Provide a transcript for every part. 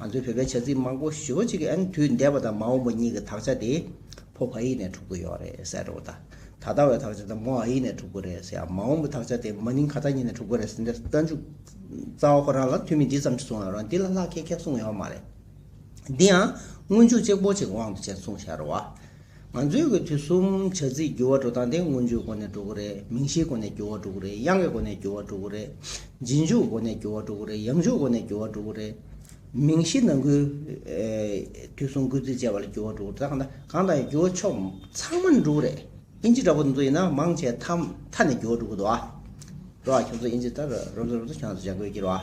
ང་ཚོའི་བོད་པའི་བྱ་ཚིག་མང་པོ་ཞི་བ་གཅིག་གི་ཨན་དུས་འདས་པ་དང་མ་འོངས་པ་གཉིས་ཀྱི་དག་ཆ་དེ་ཕོ་བྷ་ཡིག་ནས་གྲུབ་ཀྱི་ཡོད་རེད་ཟེར་རོ། ད་ལྟ་བའི་དག་ཆ་དེ་མོ་ཨ་ཡིག་ནས་གྲུབ་ཀྱི་རེད་ཟེར་ཡང་མ་འོངས་པའི་དག་ཆ་དེ་མ་ནིང་ག་ད་གཉིས་ནས་གྲུབ་ཀྱི་རེད་ཟེར་འདིར་རྟ་མཇུག་རྩ་བ་ཁོ་རང་ལ་ཐུ་མི་འདི་ཙམ་གྱིས་གསུངས་ཡོད་རུང་འདི་ལ་ལྷག་ཁྱད་ཁྱད་གསུངས་ཡོད་མ་རེད། འདི་ཡང་སྔོན་འཇུག་གཅེར་བུ་ཅིག་དབང་དུ་བྱས་གསུངས་ཤར་བ། ང་ཚོའི་གི་དུས་གསུམ་བྱ་རྩིས་འགྱུར་བ་འགྲོ་སྟངས་དེ་དངོས་བརྗོད་སྒོ་ནས་འགྲོ་གི་རེད་མིང་གཞིའི་སྒོ་ནས་འགྱུར་བ་འགྲོ་གི་རེད་དབྱངས་ཀྱི་སྒོ་ནས་འགྱུར་བ་འགྲོ་གི་རེད་རྗེས་འཇུག་སྒོ་ནས་འགྱུར་བ་འགྲོ་གི་རེད་ཡང་འཇུག་སྒོ་ནས་འགྱུར་བ་འགྲོ་གི་རེད། མིང་གཞི་ནང་ཁུལ། དུས་གསུམ་སྐུལ་རྩིས་བཅས་པ་ལ་འགྱུར་བ་འགྲོ་གི་རེད་ད་གང་ལྟར་འགྱུར་བ་ཕྱོགས་ཚང་མ་ནས་འགྲོ་གི་རེད་དབྱིན་ཇི་འདྲ་པོ་དེ་ཚོ་ཡིན་ན་མང་ཆེ་མཐའ་མཐའ་ནས་འགྱུར་བ་འགྲོ་གི་རེད་རེད་ཁྱོད་ཚོ་དབྱིན་ཇི་ལྟར་རོབ་རྩོད་རོབ་རྩོད་ཁྱོད་ཚོ་བྱ་དགོས་ཀྱི་རེད།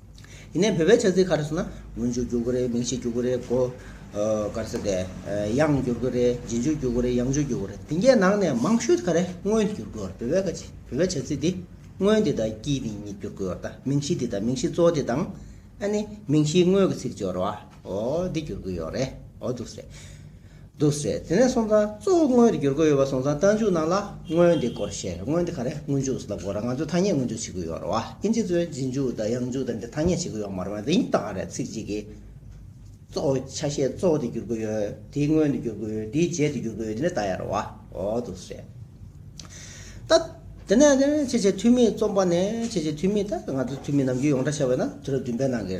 ཡིན་ནའི་བོད་པའི་ཆ་ཚིག་ཁ་རེ་སོང་ན་དངུལ་ཆུ་རྒྱུག་གི་རེད་མིང་ཞིག་རྒྱུག་གི་རེད་གོ། ག་རེ་ཟེར་ཏེ། གཡང་བསྒྱུར་གི་རེད་རྗེས་འཇུག་རྒྱུག་གི་རེད་གཡང་འཇུག་རྒྱུག་གི་རེད་དེ་འགའི་ནང་ནས་མང་ཤོས་ག་རེ་དངོས་བསྒྱུར་དགོས་ཡོད་རེད་བོད་པའི་བོད་པའི་ཆ་ཚིག་འདི་དངོས་འདི་དང་སྐྱིད་འདི་གཉིས་བསྒྱུར་དགོས་ཡོད་རེད་མིང་གཞི་འདི་དང་མིང་གཞི་གཙོ་བོ་འདི་དང། ཨ་ནི་མིང་གཞིའི་དངོས་ཀྱི་ཚིག་སྦྱོར་བ། ཨོ་འདི་བསྒྱུར་དགོས་ཡོད་རེད། ཨོ་འདུག་བསྲེ། འདུག་བསྲེ། དེ་ནས་སོང་ཙང་གཙོ་བོ་དངོས་འདི་བསྒྱུར་དགོས་ཡོད་པ་སོང་ཙང་རྟ་མཇུག་ནང་ལ་དངོས་འདི་སྐོར་བཤད་རེད་དངོས་འདི་ག་རེད་དངོས་མཇུག་ཟླ་དགོས་ར་ང་ཚོས་ཐ་སྙད་དངོས་འཇུག་བྱེད་དགོས་ཡོད་ར་བ་ཨིན་ཇི་ཚོས་རྗེས་མཇུག་དང་ཡང་མཇུག་དང་འདི་ཐ་སྙད་བྱེད་དགོས་ཡོད་མ་རེད་བ་འདི་ཡིན་ཏག་རེད་ཚིག་གཅིག་གིས། གཙོ་བོ་ཆ་ཤས་གཙོ་བོ་འདི་བསྒྱུར་དགོས་ཡོད་དེའི་དངོས་འདི་བསྒྱུར་དགོས་ཡོད་དེའི་རྗེས་འདི་བསྒྱུར་དགོས་ཡོད་དེ་འདྲ་ད་ཡ་ར་བ་ཨོ་འདུག་བསྲེ། ད། དེ་ནས་ཁྱེད་ཀྱི་འཐུས་མིའི་རྩོམ་པ་ནས་ཁྱེད་ཀྱི་འཐུས་མི་ད་ང་ཚོའི་འཐུས་མི་ནམ་རྒྱུན་ཡོངས་གྲགས་ཆེ་བས་ན་དུས་རབས་བདུན་པའི་ནང་གི།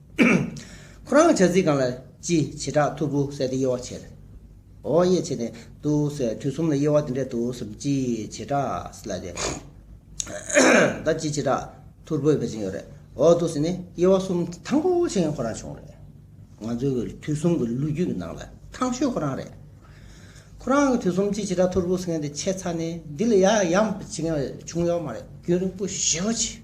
ཁོ་རང་གི་བྱ་ཚིག་གང་ལ་ཅི་བྱེད་བྲག་ཐུར་བུ་ཟས་དེ་དབྱེ་བ་ཕྱེད་དོ། དབྱེ་ཕྱེད་ནས་དུ་ཟས་དུས་གསུམ་ལ་དབྱེ་བ་དེ་འདྲས་དུ་གསུམ་ཅི་བྱེད་བྲག་ཟས་ལ་དེ་ལྟར་ཅི་བྱེད་བྲག་ཐུར་བུ་དབྱེ་བ་ཅན་ཡོད་རེད། འོ་དུ་ཟས་ནི་དབྱེ་བ་གསུམ་ཐང་པོ་བྱེད་མཁན་ཁོ་རང་བྱུང་རེད། ང་ཚོའི་གི་དུས་གསུམ་གི་ལོ་རྒྱུས་ཀྱི་ནང་ལ་ཐང་ཤོས་ཁོ་རང་རེད། ཁོ་རང་གི་དུས་གསུམ་ཅི་བྱེད་བྲག་ཐུར་བུ་ཟེར་མཁན་དེ་ཆད་ཚར་ནས་འདི་ལ་ཡ་ཡམ་བྱེད་མཁན་བྱུང་ཡོད་མ་རེད་རྒྱུན་རིང་པོ་ཞེ་བོ་ཆེ།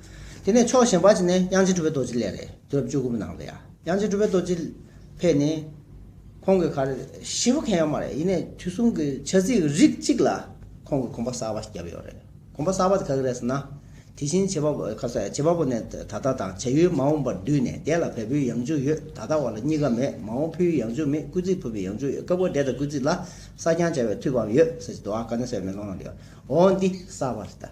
དེ་ནས་ཕྱོགས་གཞན་པ་ཅིག་ནས་དབྱངས་ཅན་གྲུབ་པའི་རྡོ་རྗེ་ལས་རེ་དོར་བཅུ་དགུ་པོ་གནང་བ་ཡང། དབྱངས་ཅན་གྲུབ་པའི་རྡོ་རྗེ་ཕེབས་ནས། ཁོང་གི་གར་ཞི་བ་མཁན་ཡོད་མ་རེད་ཡིན་ནས་དུས་གསུམ་གྱི་བྱ་ཚིག་རིགས་གཅིག་ལ་ཁོང་གི་གོམ་པ་གསར་བ་ཞིག་བརྒྱབ་ཡོད་རེད་གོམ་པ་གསར་བ་དེ་ག་གི་རེད་ཟེར་ན། དེ་བཞིན་བྱེད་པ་པོ་ནས་ད་ལྟ་དང་བྱ་ཡུལ་མ་འོངས་པར་བསྡུས་ནས་དེ་ལ་བལ་པོའི་ཡང་བཅུ་ཡོད་ད་ལྟ་བ་ལ་གཉིས་ཀ་མེད་མ་འོངས་ཕུ་ཡུལ་ཡང་བཅུ་མེད་སྐུལ་ཚིག་ཕུ་པའི་ཡང་བཅུ་ཡོད་སྐབས་འགར་འདྲེ་དང་སྐུལ་ཚིག་ལ་སྲ་བརྐྱང་བྱ་བའི་དུས་བབ་ཡོད་ཟེར་གྱི་འདུག་ཨ་ཀ་ནི་སའི་མེ་ལོང་ན་ཡོད་འོ་འདི་གསར་བ་རེད་ད།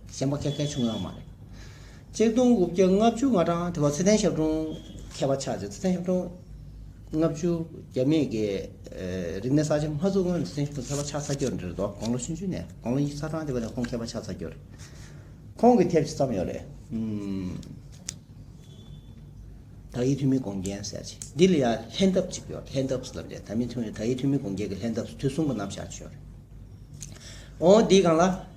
གཞན་པ་སྐད་གལ་ཆུང་ཡང་མ་རེད། གཅིག་སྟོང་དགུ་བརྒྱ་ལྔ་བཅུ་ང་གྲངས་དེ་བ་ཚེ་ཏན་ཞབས་དྲུང་མཁས་པ་ཆགས་རྗེས་ཚེ་ཏན་ཞབས་དྲུང། ལྔ་བཅུ་བརྒྱ་མེད་དགེ། རིག་གནས་གསར་བརྗེ་སྔ་བཙུགས་སྔོན་ཚེ་ཏན་ཞབས་དྲུང་མཁས་པ་ཆགས་ཚར་གྱུར་འདིར་དོ་དགོང་ལོ་ཕྱི་མཆུ་ནས་དགོང་ལོ་ཉིས་ཚར་གྲངས་དེ་བ་ནས་ཁོང་མཁས་པ་ཆགས་ཚར་གྱུར། ཁོང་གི་ཐེབས་ཅི་ཙམ་ཡོད་རེད། དག་ཡིག་འཐུས་མི་དགོངས་རྒྱན་ཟེར་གྱི་འདི་ལ་ཡང་ལྷན་ཐབས་གཅིག་ཡོད་ལྷན་ཐབས་ལབ་འདྲེ་དག་ཡིག་འཐུས་མི་དགོངས་རྒྱན་གྱི་ལྷན་ཐབས་དུས་གསུམ་པོ་ནམ་བཞག་ཆོད་རེད། འོ་འདི་གང་ལ།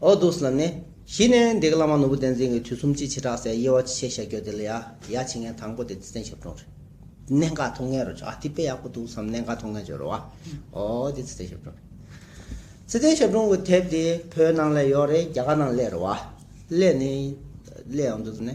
ཨོ་དུ་སི་ལ་ནི། གཞི་ནས་འདི་ག་བླ་མ་ནོར་བུ་བསྟན་འཛིན་གྱི་དུས་གསུམ་སྤྱི་བྱེ་བྲག་སའི་དབྱེ་བ་ཅི་ཆེ་ཤ་རྒྱོ་དེ་ལ་ཡ་ཡ་བྱེད་མཁན་དང་པོ་དེ་བསྟན་ཞབས་དྲུང་རེད། གནད་འགག་ཐུགས་ངན་རུ་བྱོ་ཨ་དེ་དཔེ་ཡག་པོ་འདུག་བསམ་གནད་འགག་ཐུགས་ངན་བྱོ་རུ་བ། ཨོ་དེ་བསྟན་ཞབས་དྲུང་རེད། བསྟན་ཞབས་དྲུང་གི་དེབ་དེ་བོད་ནང་ལས་ཡོག་རེད་རྒྱ་གར་ནང་ལས་རུ་བ། ལས་ནི། ལས་ཨོ་དུ་སི་ནི།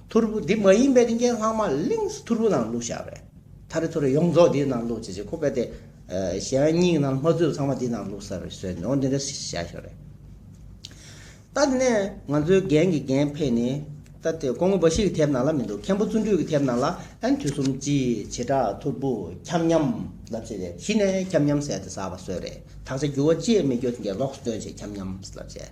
ཐུར་བུ་འདི་མ་ཡིན་པའི་རིན་ཆེན་ལྷག་མ་ལིངས་སུ་ཐུར་བུ་ནང་བླུགས་བཞག་པས། ཐར་རི་ཐུར་རི་ཡོངས་རྫོགས་འདིའི་ནང་བླུགས་ཅེས་བྱས་ཁོ་པས་དེ། གཞན་སྙིང་རྣམས་ལྷོ་ཚུལ་ཚང་མ་འདིའི་ནང་བླུགས་ས་རེད་ཟོས་ནས་འོ་འདི་འདྲ་ཞིག་བྱ་ཞོར་རེད། ད་དེ་ནས་ང་ཚོའི་རྒན་གྱི་རྒན་ཕེ་ནི། ད་དེ་ཁོ་ངོ་འབའ་ཞིག་གི་ཐེབས་ནང་ལ་མི་འདུག་མཁན་པོ་བརྩོན་འགྲུས་ཀྱི་ཐེབས་ནང་ལ་ཨན་དུས་གསུམ་སྤྱིའི་བྱེ་བྲག་ཐུར་བུ་ཁྱམས་མཉམ་ལབ་བྱས་ཏེ་གཞི་ནས་ཁྱམས་མཉམ་ཟས་དེ་ཟ་བ་ཟོས་རེད་དག་ཆ་རྒྱུ་བ་ཅེས་མི་རྒྱུ་དེ་འགས་ལོགས་སུ་སྟོན་བྱས་ཁྱམས་མཉམ་ལབ་བྱས།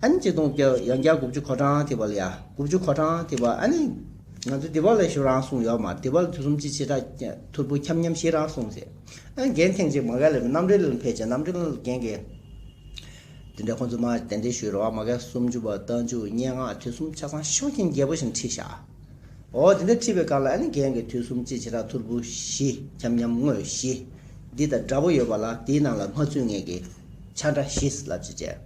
ཨ་ནི་གཅིག་སྟོང་བརྒྱ་ཡང་བརྒྱ་དགུ་བཅུ་གོ་གྲངས་དེ་བ་ལ་ཡ་དགུ་བཅུ་གོ་གྲངས་དེ་བ་ཨ་ནི། ང་ཚོ་དེ་བ་ལ་ཞོ་རང་གསུངས་ཡོག་མ་དེ་བ་ལ་དུས་གསུམ་གཅིག་བྱེ་བྲག་ཀྱི་ཐོར་བུ་ཁྱམས་ཁྱམས་ཤིག་རང་གསུངས་ཚེ་ཨ་ནི་རྒན་ཐེངས་གཅིག་མ་གལ་ལས་རྣམ་འགྲེལ་ལ་ཕེབས་ཀྱང་རྣམ་འགྲེལ་རྒན་གྱིས། དེ་འདྲ་ཁོང་ཚོ་མར་གདན་འདྲེན་ཞུས་རོགས་ཨ་མ་གལ་སུམ་ཅུ་བ་རྟ་མཇུག་སྙན་ངག་དུས་གསུམ་ཆ་ཚང་ཤོག་མཁན་རྒྱལ་པོ་བཞིན་ཁྲིད་བཞག་ཨོ་དེ་འདྲ་ཁྲིད་པའི་སྐབས་ལ་ཨ་ནི་རྒན་གྱིས་དུས་གསུམ་གཅིག་བྱེ་བྲག་ཐོར་བུ་བཞི་ཁྱམས་ཁྱམས་དངོས་བཞི་འདི་དང་འདྲ་པོ་ཡོད་པ་ལ་དེའི་ནང་ལ་སྔ་ཚུད་ངེད་ཀྱིས་ཆ་འདྲ་བཞི་ལབ་ཅེས་བྱས།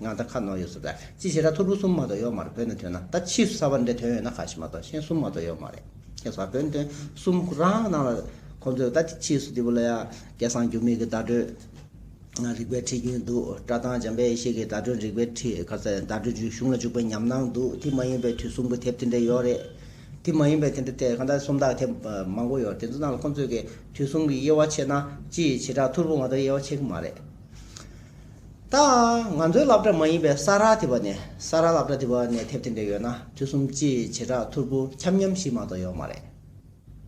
ང་ད་ཁ་ནོར་ཡོད་ཟོ་ད་ཅི་བྱེད་ད་ཐོར་བུ་གསུམ་མ་གཏོགས་ཡོག་མ་རེད་བོད་ནས་ཐོན་ན་ད་ཕྱིས་སུ་ས་བ་འདྲེ་ཐོན་ཡོད་ན་ཁ་ཞེ་མ་གཏོགས་ཤེན་གསུམ་མ་གཏོགས་ཡོག་མ་རེད་ཁྱེད་ས་བོད་ནས་ཐོན་གསུམ་ཁོ་རང་གི་ནང་ལ་ཁོ་ཚོས་ད་ཕྱིས་སུ་འདི་བོ་ལ་ཡ་སྐད་གསང་རྒྱུ་མེད་གི་བརྡ་སྤྲོད་རིག་པའི་ཁྲིད་རྒྱུན་འདུག་བཀྲ་དང་འཇམ་པའི་ཡེ་ཤེས་ཀྱི་བརྡ་སྤྲོད་རིག་པའི་ཁྲིད་ཁ་ཟེར་བརྡ་སྤྲོད་རྒྱུན་གཞུང་ལ་འཇུག་པའི་ཉམས་སྣང་འདུག་དེ་མ་ཡིན་པའི་དུས་གསུམ་གྱི་དེབ་དེ་འདྲས་ཡོག་རེད་དེ་མ་ཡིན་པའི་དེ་འདྲ་དེ་གང་ད་སུམ་རྟགས་དེབ་མང་པོ་ཡོག་དེ་ཚོ་ནང་ལ་ཁོ་ཚོས་གི་དུས་གསུམ་གྱི་དབྱེ་བ་ཕྱེས་ན་ཅི་བྱེད་ད་ཐོར་བུ་མ་གཏོགས་དབྱེ་བ་ཕྱེ་གི་མ་རེད། ད་ང་ཚོའི་སླབ་གྲྭ་མ་ཡིན་པའི་ས་རཱ་ཐི་བ་ནས་ས་རཱ་སླབ་གྲྭ་ཐི་བ་ནས་ཐེབས་ཐེབས་འདྲེ་ཡོད་ན་དུས་གསུམ་སྤྱི་ཡི་བྱེ་བྲག་ཐོར་བུ་འཁྱམ་འཁྱམ་ཞིག་མ་གཏོགས་ཡོད་མ་རེད།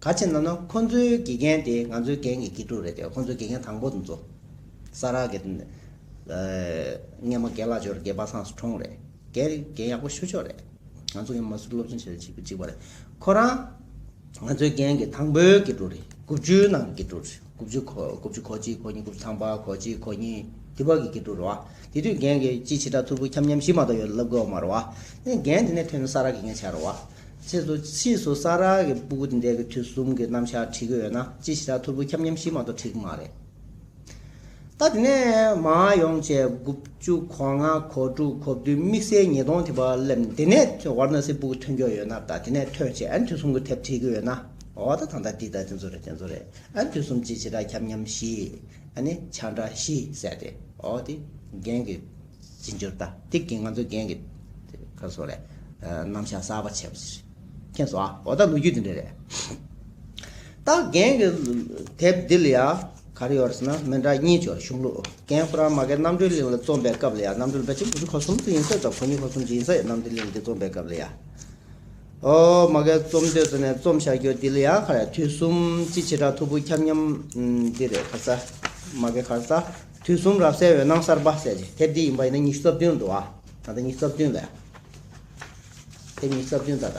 ག་ཕྱིར་ན་ནོ་ཁོ་ཚོའི་དགེ་རྒན་དེ་ང་ཚོའི་རྒན་གྱི་དགེ་ཕྲུག་རེད་དེ་ཁོ་ཚོའི་དགེ་རྒན་དང་པོ་ཚོ་ས་རཱ་གི་ངེད་མ་རྒན་ལག་འབྱོར་རྒན་པ་སངས་སུ་གྲོངས་རེད། དགེ་རྒན་ཡག་པོ་ཞུ་ཆོག་རེད། ང་ཚོ་ཡང་མ་སུར་སློབ་སྦྱོང་བྱེད་རེ་བྱེད་པ་རེད། ཁོ་རང། ང་ཚོའི་རྒན་གྱི་དང་པོའི་དགེ་ཕྲུག་རེད། དགུ་བཅུའི་ནང་གི་དགེ་ཕྲུག་རེད། དགུ་བཅུ་གོ་དགུ་བཅུ་གོ་གཅིག་གོ་གཉིས་དགུ་བཅུ་ཐང་པ་གོ་གཅིག་གོ་གཉིས་དེ་བར་གྱི་དགེ་ཕྲུག་རེད་བ། དེ་དུས་རྒན་གྱི་སྤྱི་བྱེ་བྲག་ཐུར་བུ་འཁྱམ་འཁྱམ་ཞིག་མ་གཏོགས་ཡོད་ལབ་དགོས་བ་མ་རེད་བ། ཡིན་རྒན་དེ་ནས་ཐོན་ནས་ས་ར་གི་ངས་བྱ་རེད་བ། ཕྱིས་སུ་ཕྱིས་སུ་ས་ར་གི་སྤུ་གུ་དེ་འདས་གི་དུས་གསུམ་གྱི་རྣམ་བཞག་བྲིས་གི་ཡོད་ན་སྤྱི་བྱེ་བྲག་ཐུར་བུ་འཁྱམ་འཁྱམ་ཞིག་མ་གཏོགས་བྲིས་གི་མ་རེད། ད་དེ་ནས་མ་ཡོང་བྱས་དགུ་བཅུ་གོ་ལྔ་གོ་དྲུག་གོ་བདུན་དམིགས་བསལ་ཉིས་སྟོང་དེ་བ་སླེབས་དེ་ནས་བར་ན་སི་པུག་ཐོན་རྒྱུ་ཡོད་ན་ད་དེ་ནས་ཐོན་བྱས་ཨན་དུས་གསུམ་གུ་དེབ་བྲིས་གི་ཡོད་ན་འོ་ད་ད་འདི་ད་དེ་ཚོ་རེད་དེ་ཚོ་རེད་ཨན་དུས་གསུམ་གྱི་བྱེ་བྲག་ཁྱབ་མཉམ་བཞི་ཨ་ནི་ཆ་འདྲ་བཞི་བསལ་ཏེ་འོ་དེ་རྒན་གི་བྱེད་འགྱུར་ད་དེ་གི་ང་ཚོ་རྒན་གི་ཁ་སོ་རེད་རྣམ་གཞག་གསར་བ་བྱས་པ་ཞིག་མཁྱེན་སོང་ཨ་འོ་ད་ལོ་རྒྱུས་དེ་འདྲ་རེད་ད་རྒན་གི་དེབ་འདི་ལ་ཡ། གར་ཡོད་ཟེར་ན་མི་འདྲ་གཉིས་སྦྱོར་གཞུང་ལུགས་རྒན་ཧྥུ་རཱ་མ་ཀའི་རྣམ་གྲོལ་གླིང་ལ་རྩོམ་པའི་སྐབས་ལ་ཡང་རྣམ་གྲོལ་པད་ཆེན་གུ་རུ་ཁ་གསུམ་དུ་ཡིན་ས་དང་གོ་སྙིགས་ཁ་གསུམ་གྱི་ཡིན་ས་ཡང་རྣམ་གྲོལ་གླིང་གི་རྩོམ་པའི་སྐབས་ལ་ཡང། ཨོ་མ་ཀའི་རྩོམ་འདོད་ཟེར་ནས་རྩོམ་བཞག་རྒྱུ་འདི་ལ་ཡང་ཁར་ཡ་དུས་གསུམ་སྤྱི་བྱེ་བྲག་ཐུ་བོ་ཁྱབ་མཉམ་འདི་རེད་ཁར་ས་མ་ཀའི་ཁར་ས་དུས་གསུམ་རབ་གསལ་འོད་སྣང་གསར་པ་གསལ་བྱེད་དེབ་འདི་ཡིན་པ་ཡིན་ན་ཉི་ཤུ་རྩ་བདུན་འདུག་ཨ་ད་ལྟ་ཉི་ཤུ་རྩ་བདུན་ལ་ཡང་དེབ་ཉི་ཤུ་རྩ་བདུན་ད་ལྟ།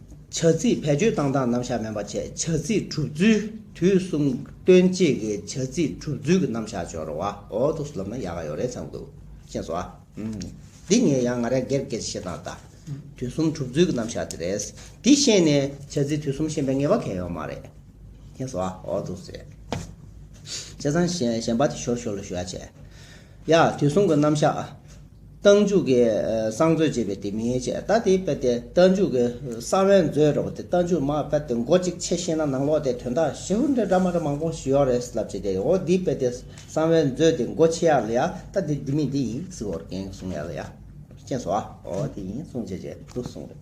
བྱ་ཚིག་བེད་སྤྱོད་བཏང་སྟངས་རྣམ་གཞག་མེད་པ་བཅས་བྱ་ཚིག་གྲུབ་ཚུལ་དུས་གསུམ་སྟོན་བྱེད་ཀྱི་བྱ་ཚིག་གྲུབ་ཚུལ་གྱི་རྣམ་གཞག་སྦྱོར་བ་འོ་ཐུག་སུ་ལབ་ན་ཡག་ག་ཡོད་རེད་བསམ་གི་འདུག་ཅེས་སོའདི་ངས་ཡང་ང་རེ་སྒེར་སྒེར་བཤད་སྟངས་ལྟ་དུས་གསུམ་གྲུབ་ཚུལ་གྱི་རྣམ་གཞག་དེ་རེད་འདི་ཤེས་ནས་བྱ་ཚིག་དུས་གསུམ་ཤེས་པའི་ངེས་པ་གལ་ཡོད་མ་རེད་ཅེས་སོའོ་ཐུག་སེ་བྱས་ཙང་གཞན་པ་དེ་ཤོར་ཤོར་ལ་ཞུ་ཡ་བྱས། ཡ། དེ་གསུང་གི་རྣམ་གཞག། རྟ་མཇུག་གི་གསང་མཛོད་ཅེས་པའི་དེ་མིང་ཡིན་ཅེས་ད་དེ་དཔེར་དེ་རྟ་མཇུག་གི་གསང་བའི་མཛོད་རེད་བ་དེ་རྟ་མཇུག་མ་དཔེར་དེ་མགོ་གཅིག་ཕྱེས་ཤེས་ན་ནང་ལོག་དེ་དོན་དག་ཞེ་ཧུར་འདྲེ་འདྲ་མ་འདྲ་མང་པོ་ཞུ་ཡག་རེད་ཟེར་ལབ་ཅེས་དེ་འོ་དེའི་དཔེར་དེ་གསང་བའི་མཛོད་དེ་མགོ་ཕྱེ་ཡག་ལ་ཡ་ད་དེ་འདི་མིན་འདི་ཡིན་ཟིག་འོ་རེ་གན་གསུང་ཡག་ལ་ཡ། ཅེས་སོ་ཨ་འོ་དེ་ཡིན་གསུང་ཅེས་ཅེས་འདུག་གསུང་རེད།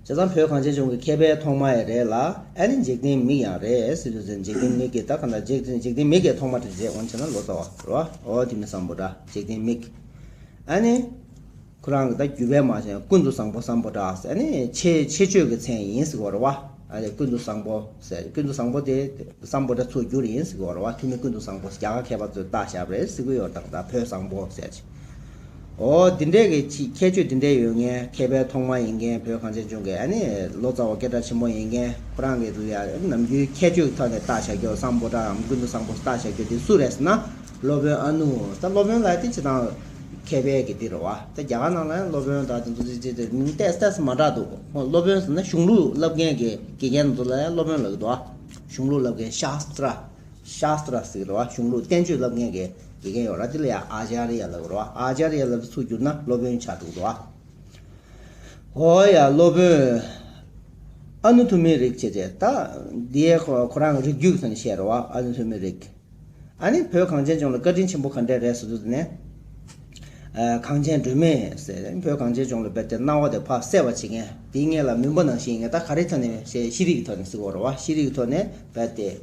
བྱས་ཙང་བོད་གངས་ཅན་ལྗོངས་ཀྱི་མཁས་པའི་ཐོག་མ་ཡང་རེད་ལ་ཨ་ནི་འཇིག་རྟེན་མིག་ཡང་རེད་སྲིད་ལུས་ཙན་འཇིག་རྟེན་མིག་གིས་ད་ག་འདྲ་འཇིག་རྟེན་མིག་གིས་ཐོག་མ་དྲིས་རྗེས་འོན་ཆེ་ན་ལོ་ཙཱ་བ་རོ་ཨོ་དེ་མི་བཟང་པོ་འདྲ་འཇིག་རྟེན་མིག་ཨ་ནི། ཁོ་རང་གིས་ད་རྒྱུད་པད་མ་ཅན་ཀུན་ཏུ་བཟང་པོ་བཟང་པོ་འདྲ་ཟེར་ནི་ཆེ་ཆེ་ཆོས་ཀྱི་མཚན་ཡིན་ཟིག་བ་རོ་ཨ་དེ་ཀུན་ཏུ་བཟང་པོ་ཟེར་ཀུན་ཏུ་བཟང་པོ་དེ་བཟང་པོ་འདྲ་ཚུར་བསྒྱུར་ཡིན་ཟིག་བ་རོ་ཨ་ཐུ་མི་ཀུན་ཏུ་བཟང་པོ་རྒྱ་གར་མཁས་པ་ཚོའི་བརྟག་ཞབས་རེད་ཟིག་གུ་ཡོར་དང་འདྲ་བོད་བཟང་པོ་ཟེར། ཨོ། འདི་འདྲའི་གི་ཅིག་ཁྱད་ཆོས་འདི་འདྲའི་ཡོད་མཁན་མཁས་པའི་ཐོག་མ་ཡིན་མཁན་བོད་གངས་ཅན་ལྗོངས་ཀྱི་ཨ་ནི་ལོ་ཙཱ་བ་སྐད་གྲགས་ཆེན་པོ་ཡིན་མཁན་ཁོ་རང་གི་རུ་ཡར་ནམ་རྒྱུན་ཁྱད་ཆོས་ཀྱི་ཐོག་ནས་བརྟག་བྱ་རྒྱོ་བསང་པོ་ཏྲ་འམ་ཀུན་ཏུ་བཟང་པོ་བརྟག་བྱ་རྒྱོ་འདི་སུ་རེད་ཟེར་ན་སློབ་དཔོན་ཨ་ནུ་ད་སློབ་དཔོན་ལ་ཏི་ཅི་དང་མཁས་པའི་གི་འདི་རུ་བ་ད་རྒྱ་གར་ནང་ལ་ཡང་སློབ་དཔོན་དག་འདི་འདུག་ཅི་ཅི་ཏི་མིང་ཏས་ཏས་མ་གྲགས་འདུག་ཧོ་སློབ་དཔོན་ཟེར་ན་གཞུང་ལུགས་བསླབ་མཁན་གི་དགེ་རྒན་ཚོ་ལ་ཡང་སློབ་དཔོན་ལབ་གི་འདུག་ཨ་གཞུང་ལུགས་བསླབ་མཁན་ཤཱསྟྲ Shastra ཟེར་བ་གཞུང་ལུགས་བསྟན་བཅོས་ལབ་མཁན་གྱི་དགེ་རྒན་ཡོད་ར་དེ་ལ་ཡང Acharya ལབ་ར Acharya ལབ་ཚུགས་གྱུར་ན་སློབ་དཔོན་ཆགས་འདུག་འདུག་ཨ། ཨོ་ཡ་སློབ་དཔོན་ཨ་ནུ་ཐུ་མི་རིག་བྱེད་དེ་ད་དེ་ཁོ་རང་རིག་རྒྱུགས་ཟེར་ནས་བཤད་ར་བ་ཨ་ནུ་ཐུ་མི་རིག་ཨ་ནི་བོད་གངས་ཅན་ལྗོངས་ལ་བཀའ་དྲིན་ཆེན་པོ་ག་འདྲས་རེད་ཟེར་དུས་ནས་གངས་ཅན་སྒྲོལ་མས་ཟེར་བོད་གངས་ཅན་ལྗོངས་ལ་བེར་ཏེ་གནའ་བོ་དེ་ཕ་གསལ་བ་བྱེད་མཁན་དེའི་མངལ་ལ་མུན་པ་ནང་བཞིན་ཡིན་ངེས་ད་ག་རེ་ཐོན་ནས་ཤེས་ཤེས་རིག་གི་ཐོག་ནས་ཟིག་འོ་ར་བ་ཤེས་རིག་གི་ཐོག་ནས་བེར་ཏེ།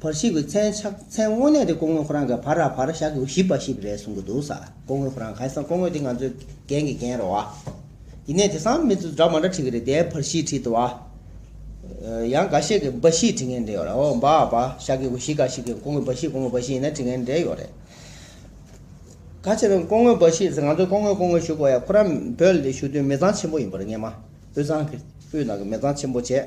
བར་བཤིག་པའི་མཚན་ཕྱག་མཚན་དངོས་གནས་དེ་སྐུ་ངོས་ཁོ་རང་གི་བར་ར་བར་བཞག་གི་བཞི་པ་ཞིག་རེད་གསུང་གི་འདུག་ས་སྐུ་ངོས་ཁོ་རང་ག་ཡེ་ས་སྐུ་ངོས་དེ་ང་ཚོའི་རྒན་གྱི་རྒན་རེད་བ། ཡིན་ནས་དེ་སང་མི་ཚོ་འདྲ་མ་འདྲ་བྲིས་གི་རེད་དེ་བར་བཞི་བྲིས་འདུག་བ། ཡང་འགའ་ཤས་ཀྱི་འབའ་བཞི་བྲིས་ངན་འདྲ་ཡོད་རེད་འོ་འབའ་བ་བཞག་གི་བཞི་འགའ་ཞིག་གི་སྐུ་ངོས་འབའ་བཞི་སྐུ་ངོས་འབའ་བཞི་ཡིན་ན་བྲིས་ངན་འདྲ་ཡོད་རེད། ག་ཕྱིར་སྐུ་ངོས་འབའ་བཞི་ཟེར་ང་ཚོ་སྐུ་ངོས་སྐུ་ངོས་ཞུ་དགོས་ཡ་ཁོ་རང་བོད་ལ་ཞུ་དུས་མི་ཚང་ཆེན་པོ་ཡིན་པ་རེད་ངེས་མ་དབུས་གཙང་གི་དབུས་ནང་གི་མི་ཚང་ཆེན་པོ་བྱས།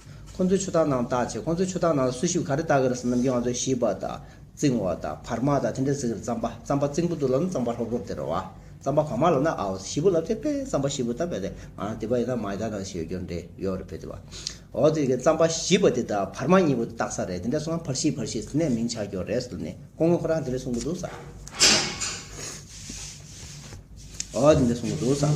ཁོ་ཚོའི་ཆུ་འཐག་ནང་བཏགས་ཚེ་ཁོ་ཚོའི་ཆུ་འཐག་ནང་ལ་སུ་ཞིག་ག་རེ་བཏགས་གི་རེད་བསམ་ནམ་རྒྱུན་ང་ཚོས་ཤིས་པ་དང་རྩིང་བ་དང་བར་མ་དང་དེ་འདྲ་ཟེར་གི་རེད་རྩམ་པ་རྩམ་པ་རྩིང་པོ་འདུག་ལབ་ན་རྩམ་པ་ལྷོབ་ལྷོབ་དེ་རེད་བ། རྩམ་པ་བར་མ་ལབ་ན་ཨའོ་ཞིས་པོ་ལབ་ཚེ་བེ་རྩམ་པ་ཞིས་པོ་ད་བེ་རེད་ཨ་དེ་བ་ཡིན་ན་མ་ཡི་ད་ནང་ཞིག་ཡོད་རྒྱུ་རེད་ཡོད་རེད་བེ་དེ་བ། ཨོ་དེ་གི་རྩམ་པ་ཞིས་པོ་དེ་ད་བར་མ་གཉིས་པོ་དེ་བཏགས་ས་རེད་དེ་འདྲ་སོང་ང་བར་ཞིས་བར་ཞིས་དེ་ནས་མིང་ཆགས་རྒྱུ་རེད་བསམ་ནས་ཁོ་ངོས་ཁོ་རང་དེ་འདྲ་གསུང་གི་འདུག་བསམ། ཨོ་དེ་འདྲ་གསུང་གི་འདུག་བསམ།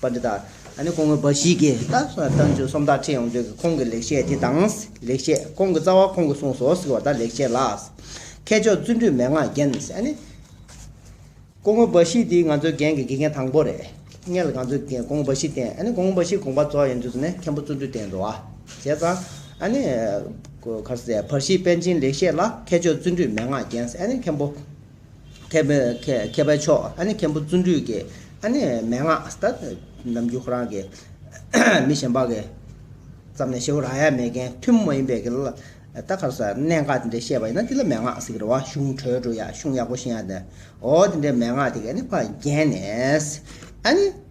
པ་འདི་དག་ནི་ཁོང་གི་འབའ་ཞིག་གིས་ད་ལྟ་མཆོད་གསུམ་དག་ཁྲིད་ཡོང་དུས་ཀྱི་ཁོང་གི་ལེགས་བཤད་དེ་དང། ལེགས་བཤད་ཁོང་གི་རྩ་བ་ཁོང་གིས་གསུངས་སོ་ཟེར་བ་དག་ལེགས་བཤད་ལགས། མཁས་མཆོག་བརྩོན་འགྲུས་མན་ངག་རྒྱན། ཁོང་གི་འབའ་ཞིག་དེ་ང་ཚོའི་རྒན་གྱི་དགེ་རྒན་དང་པོ་རེད། ངས་ལ་ང་ཚོའི་རྒན་ཁོང་གི་འབའ་ཞིག་བསྟེན། ཁོང་གི་འབའ་ཞིག་དགོངས་པ་རྫོགས་ཡོང་དུས་སུ་ནི་མཁན་པོ་བརྩོན་འགྲུས་བསྟེན་འགྲོ། བྱས་ཙང། གར་སེ། བར་ཤིས་དཔལ་ཆེན་ལེགས་བཤད་ལ་མཁས་མཆོག་བརྩོན་འགྲུས་མན་ངག་རྒྱན། མཁན་པོ། མཁས་པའི་མཁས་པའི་མཆོག་ཨ་ནི་མཁན་པོ་བརྩོན་འགྲུས་ཀྱི་ཨ་ནི་མན་ངག་ད་ནམ་རྒྱུན་ཁོ་རང་གི་མི་གཞན་པ་གི་ཙམ་ནས་ཤེས་བ་རང་ཡང་མེད་མཁན་ཐུན་མོང་མ་ཡིན་པའི་གི་ལ་ད་གར་ས་གནད་འགག་དེ་འདྲའི་བཤད་པ་ཡིན་ན་དེ་ལ་མན་ངག་ཟེར་གི་རེད་བ་གཞུང་གྲོལ་འགྲོ་ཡག་གཞུང་ཡག་པོ་ཤེས་ཡག་དེ་འོ་དེ་འདྲའི་མན་ངག་དེ་གི་ཨ་ནི་བར་བརྒྱན་ནས་ཨ་ནི།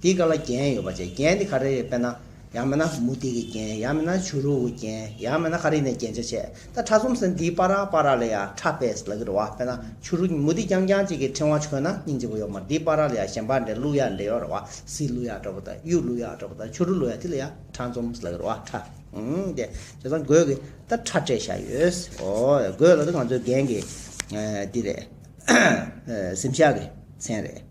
འདི་ག་ལ་རྒྱན་ཡོད་པ་ཆེ་རྒྱན་འདི་ག་རེ་རེད་དཔེར་ན། ཡང་མེད་ན་མུ་ཏིག་གི་རྒྱན་ཡང་མེད་ན་བྱུ་རུ་གུ་རྒྱན་ཡང་མེད་ན་ག་རེ་ནས་རྒྱན་ཆ་ཆེ་ད་ཁྲ་གསུམ་ཟེར་འདིའི་པ་ར་པ་ར་ལ་ཡ་ཁྲ་པས་ལ་གི་རོ་བ་དཔེར་ན་བྱུ་རུ་མུ་ཏིག་རྐྱང་རྐྱང་ཅིག་གི་ཕྲེང་བ་ཆོད་ན་སྙིང་རྗེ་བོ་ཡོད་མར་འདིའི་པ་ར་ལ་ཡ་གཞན་པ་འདྲེ་གླུ་ཡ་འདྲེ་ཡོ་ར་བ་སི་གླུ་ཡ་འདྲ་བོ་དང་གཡུ་གླུ་ཡ་འདྲ་བོ་དང་བྱུ་རུ་གླུ་ཡ་དེ་ལ་ཡ་ཁྲ་འཛོམས་ལ་གི་རོ་བ་ཁྲ་ཨང་དེ་དེ་ཚང་གོས་གི་ད་ཁྲ་སྤྲས་བཞག་ཡོད་ཨོ་གོས་ལ་ད་ང་ཚོའི་རྒན་གི་འདི་རེད་གཟིམ་ཤག་གི་མཚན་རེད།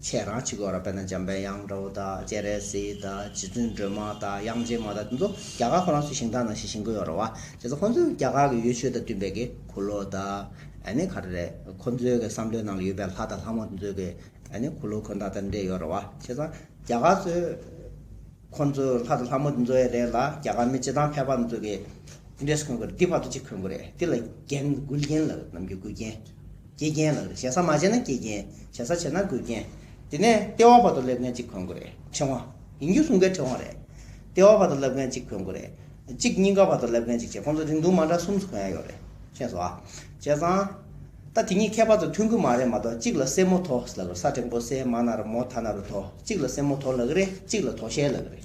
ཁྱེད་རང་གཅིག་གོ་ར་བས་ན་འཇམ་པའི་དབྱངས་འདྲ་བོ་དག་སྐྱེ་རེ་སི་དག་རྗེ་བཙུན་སྒྲོལ་མ་དག་དབྱངས་ཅན་མ་དག་དེ་ཚོ་རྒྱ་གར་ཁོ་རང་ཚོའི་ཞིང་ཐང་ནང་ཞིག་ཞིང་ཁོ་ཡོད་རོ་བ་དེ་ཚོ་ཁོ་ཚོས་རྒྱ་གར་གི་ཡོད་ཆོས་དང་བསྟུན་པའི་གི་གུ་ལོ་དག་ཨ་ནི་ག་རེ་རེད་ཁོ་ཚོའི་གི་བསམ་བློའི་ནང་ལ་ཡོད་པའི་ལྷ་དང་ལྷ་མོ་དེ་ཚོའི་གི་ཨ་ནི་གུ་ལོ་ཁོ་ན་དང་འདྲེས་ཡོད་རོ་བ་བྱས་ཙང་རྒྱ་གར་ཚོས་ཁོ་ཚོའི་ལྷ་དང་ལྷ་མོ་དེ་ཚོའི་རེ་ལ་རྒྱ་གར་མི་སྤྱི་དང་ཕལ་པ་དེ་ཚོའི་གི་འདྲེས་འཁོན་དགོས་རེད་དེ་བར་དུ་གཅིག་འཁོན་དགོས་རེད་དེ་ལ་རྒན་དགུ་རྒན་ལགས་རྣམས་ཀྱི་དགུ་རྒན། སྐྱེས་རྒན་ལགས་རེད་བྱེད་ས་མ་བྱེད་ན་སྐྱེས་རྒན་བྱེད་ས་བྱེད་ན་དགོས་རྒན། དེ་ནས་ལྟེ་བ་བར་དུ་སླེབས་མཁན་གཅིག་གོན་དགོས་རེད་ཕྲེང་བ། ཡིན་རྒྱུ་གསུང་མཁན་ཕྲེང་བ་རེད། ལྟེ་བ་བར་དུ་སླེབས་མཁན་གཅིག་གོན་དགོས་རེད། གཅིག་གཉིས་ཀ་བར་དུ་སླེབས་མཁན་གཅིག་བྱེད་ཁོང་ཚོ་རིང་ཐུང་མ་འདྲ་གསུམ་སུ་གོན་ཡ་ཡོད་རེད་ཤེས་སོ། བྱས་ཙང། ད་དེ་གཉིས་ཁྱད་པར་དུ་མཐུན་གི་མ་རེད་མ་གཏོགས་གཅིག་ལ་སེན་མོ་དོ་ལགས་རེད་ས་ཕྲེང་པོ་སེན་མ་ན་རུ་མོ་ད་ན་རུ་དོ་གཅིག་ལ་སེན་མོ་དོ་ལགས་རེད་གཅིག་ལ་དོ་ཤལ་ལགས་རེད།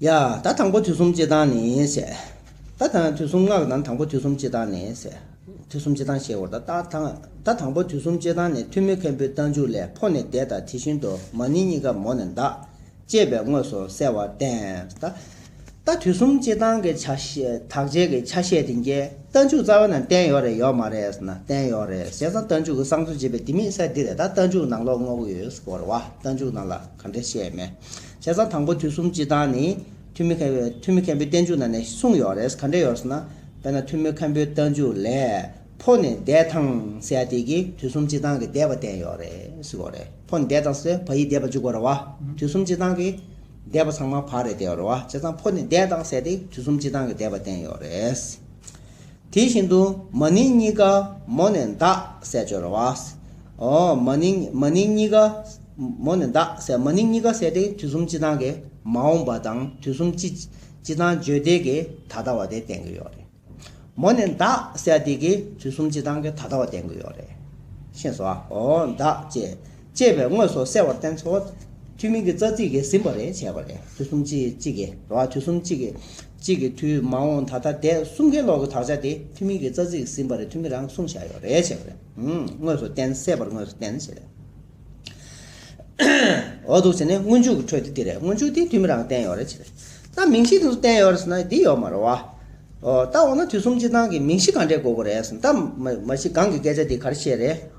ཡ། ད་དང་པོ་དུས་གསུམ་སྤྱི་དང་ནི་ཟད། ད་དང་དུས་གསུམ་སྔགས་དང་དང་པོ་དུས་གསུམ་སྤྱི་དང་ནི་ཟད། དུས་གསུམ་སྤྱི་དང་ཞེས་བར་དོ། ད་དང་པོ་དུས་གསུམ་སྤྱི་དང་ནི་ཐུན་མོད་མཁན་པོའི་རྟ་མཇུག་ལས་འཕོ་ནས་འདས་དང་དེ་བཞིན་དུ་མ་ནི་གཉིས་ཀ་མོ་ནས་འདག། ཅེས་པས་དངོས་སུ་གསལ་བར་བསྟན། ད་དུས་གསུམ་སྤྱི་དང་གི་ཆ་ཤས་དག་བྱེད་ཀྱི་ཆ་ཤས་དེ་འགལ། རྟ་མཇུག་རྩ་བ་ན་བསྟན་ཡོད་རེད་ཡོད་མ་རེད་ཟེར་ན་བསྟན་ཡོད་རེད་བྱས་ཙང་རྟ་མཇུག་གི་གསང་གསུམ་བྱེད་པའི་དེ་མི་གསལ་འདི་རེད་ད་རྟ་མཇུག་ནང་ལོགས་དངོས་པོ་ཡོད་ཟེར་བར་བ་རྟ་མཇུག་ནང་ལ། གང་འདྲ་བཤད་མེད། བྱས་ཙང་དང་པོ་དུས་གསུམ་སྤྱི་དང་ནི། ཐུན་མི་ཐུན་མི་མཁན་པོའི་བསྟན་བཅོས་ནང་ནས་གསུངས་ཡོད་རེད་གང་འདྲ་ཡོད་ཟེར་ན། དཔེར་ན་ཐུན་མི་མཁན་པོའི་བསྟན་བཅོས་ལས། ཕོ་ནི་འདས་དང་བསྲེས་ཏེ་ཀྱི་དུས་གསུམ་སྤྱི་དང་གི་འདས་པ་བསྟན་ཡོད་རེད་གཟིགས་གོ་རེ། ཕོ་ནི་འདས་དང་བསྲེས་བ་ཡིས་འདས་པ་བཅུག་གོ་རེ་བ། དུས་གསུམ་སྤྱི་དང་གི་འདས་པ་ཚང་མ་བག་རེད་བསྟན་ཡོད་རེ་བ། བྱས་ཙང་ཕོ་ནི་འདས་དང་བསྲེས་ཏེ་དུས་གསུམ་སྤྱི་དང་གི་འདས་པ་བསྟན་ཡོད་རེད། དེ་བཞིན་དུ་མ་ནིང་གཉིས་ཀ་མོ་ནས་འདག་སྲད་སྦྱོར་བ། ཨོ། མ་ནིང་མ་ནིང་གཉིས་ཀ་མོ་ནས་འདག་སྲད་མ་ནིང་གཉིས་ཀ་སྲད་དེ་དུས་གསུམ་སྤྱི་དང་གི་མ་འོངས་པ་དང་དུས་གསུམ་སྤྱི་སྤྱི་དང་བརྗོད་བདེ་གི་ད་ལྟ་བ་དེ་བསྟན་གི་ཡོད་རེད། མོ་ནས་འདག་སྲད་དེ་གི་དུས་གསུམ་སྤྱི་དང་གི་ད་ལྟ་བ་བསྟན་གི་ཡོད་རེད། ཤེས་སོ། ཨོ་འདག་ཅེས་ཅེས་པའི་དངོས་སུ་གསལ་བར་བསྟན་ཚོ། ཐུན་མིན་གྱི་རྩ་ཚིག་གིས་ཟིན་པ་རེ་བྱས་པ་ལས་དུས་གསུམ་གཅིག་གཅིག་གི་འགྲོ་བ་དུས་གསུམ་གཅིག་གི་གཅིག་གི་དུས་མ་འོངས་ད་ལྟ་འདས་གསུམ་གའི་ལོག་གི་དག་ཆ་དེ་ཐུན་མིན་གྱི་རྩ་ཚིག་གིས་ཟིན་པ་རེ་ཐུན་མིན་རང་གསུངས་བྱ་ཡོ་རེ་བྱས་པ་རེ་དངོས་སུ་བསྟན་གསལ་བར་དངོས་སུ་བསྟན་ཞེས་པའི་འོག་ཏུ་བྱས་ནས་སྔོན་འཇུག་གི་འཕྲོས་ཏེ་འདི་རེ་སྔོན་འཇུག་དེ་ཐུན་མིན་རང་བསྟན་ཡོ་རེ་བྱས་པས་ན་མིང་གཞི་དེ་ཚོ་བསྟན་ཡོ་རེ་ཟེར་ན་འདི་ཡོ་མ་རེད་བ། ལྟ་བ་ན་དུས་གསུམ་གཅིག་དང་གི་མིང་གཞི་གང་འདྲའི་དགོས་པོ་རེད་ཟེར་ན་ད་མ་གཞི་གང་གི་སྐད་ཆ་འདི་གར་བཤད་རེད།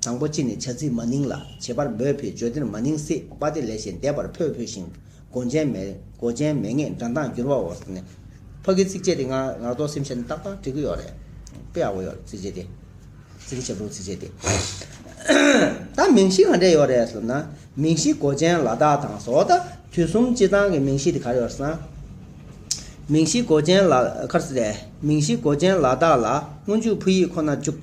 དང་པོ་སྤྱི་ནས་བྱ་ཚིག་མ་ནིང་ལ་བྱེད་པར་འབོད་བྷེ་བརྗོད་དེར་མ་ནིང་སྲིད་པ་དེ་ལས་ཞེས་འདས་པར་ཕོད་ཕོད་ཤིང་མགོ་ཅན་མེ་མགོ་ཅན་མེ་ངས་འདྲ་མདངས་འགྱུར་བའོ་ཟེར་ནས། ཕ་གི་ཚིགས་བཅད་དེ་ངག་ངག་ཏོག་སེམས་ཤར་ནས་ཏག་ཏག་འབྲི་གི་ཡོད་རེད། པེ་ཨའོ་ཡོད་རེད་ཚིགས་བཅད་དེ། ཚིག་གི་བྱེད་པོ་ཚིགས་བཅད་དེ། ད་མིང་གཞི་ག་འདྲས་ཡོད་རེད་ཟེར་ན། མིང་གཞི་མགོ་ཅན་ལ་དག་དང་ཟོ་ད་དུས་གསུམ་སྤྱི་དང་གི་མིང་གཞི་དེ་གར་ཡོད་ཟེར་ན། མིང་གཞི་མགོ་ཅན་ལ། མིང་གཞི་མགོ་ཅན་ལ་དག་ལ་སྔོན་འཇུག་ཕུ་ཡིག་ཁོ་ན་འཇུག།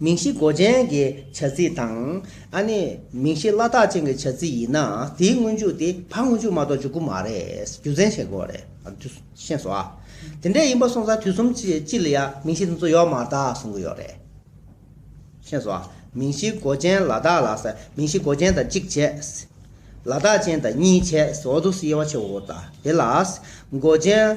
མིང་གཞི་མགོ་ཅན་གྱི་བྱ་ཚིག་དང། ཨ་ནི་མིང་གཞི་བླ་དྭགས་ཅན་གྱི་བྱ་ཚིག་ཡིན་ན་དེའི་སྔོན་འཇུག་དེ་ཕ་སྔོན་འཇུག་མ་གཏོགས་འཇུག་གི་མ་རེད། རྒྱུ་མཚན་ཤེས་དགོས་རེད། ཤེས་སོ། དེ་འདྲས་ཡིན་པ་སོང་ཙང་དུས་གསུམ་སྤྱི་ལ་ཡང་མིང་གཞི་དེ་ཚོ་ཡོད་མ་ད་གསུང་གི་ཡོད་རེད། ཤེས་སོ། མིང་གཞི་མགོ་ཅན་ལ་དྭགས་ལ་ཟེར། མིང་གཞི་མགོ་ཅན་དང་གཅིག་བྱས། ལ་དྭགས་ཅན་དང་གཉིས་བྱས། འོ་དུག་སེ་དབྱེ་བ་ཆེ་བོ་དང་དེ་ལ། མགོ་ཅན།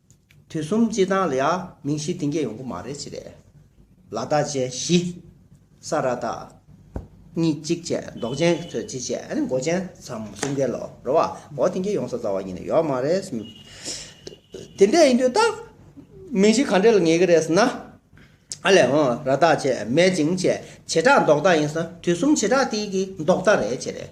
དུས་གསུམ་སྤྱི་དང་ལ་ཡག་མིང་གཞི་གཏིང་སྐྱེས་ཡོང་གི་མ་རེད་ཅི་རེད། ལ་བདག་བཅས་བཞི། ས་ར་བདག། གཉིས་གཅིག་བཅས་མདོག་ཅན་གྱི་ཚོས་གཅིག་བཅས་ཨ་ནི་མགོ་ཅན་ཚའམ་གསུམ་གའི་ལོ་རོ་བ་མགོ་གཏིང་སྐྱེས་ཡོང་ས་རྩ་བ་ཉིད་ནས་ཡོད་མ་རེད། དེ་འདྲས་ཡིན་དུས་ད་མིང་གཞི་ག་འདྲས་ལ་ངེས་ཀྱི་རེད་ཟེར་ན། ཨ་ལས་འོང་ར་དག་བྱས་མེད་ཅིང་བྱས་བྱེ་བྲག་འདོགས་རྟགས་ཡིན་ས་དུས་གསུམ་བྱེ་བྲག་དེའི་གི་འདོགས་རྟགས་རེད་བྱས་རེད།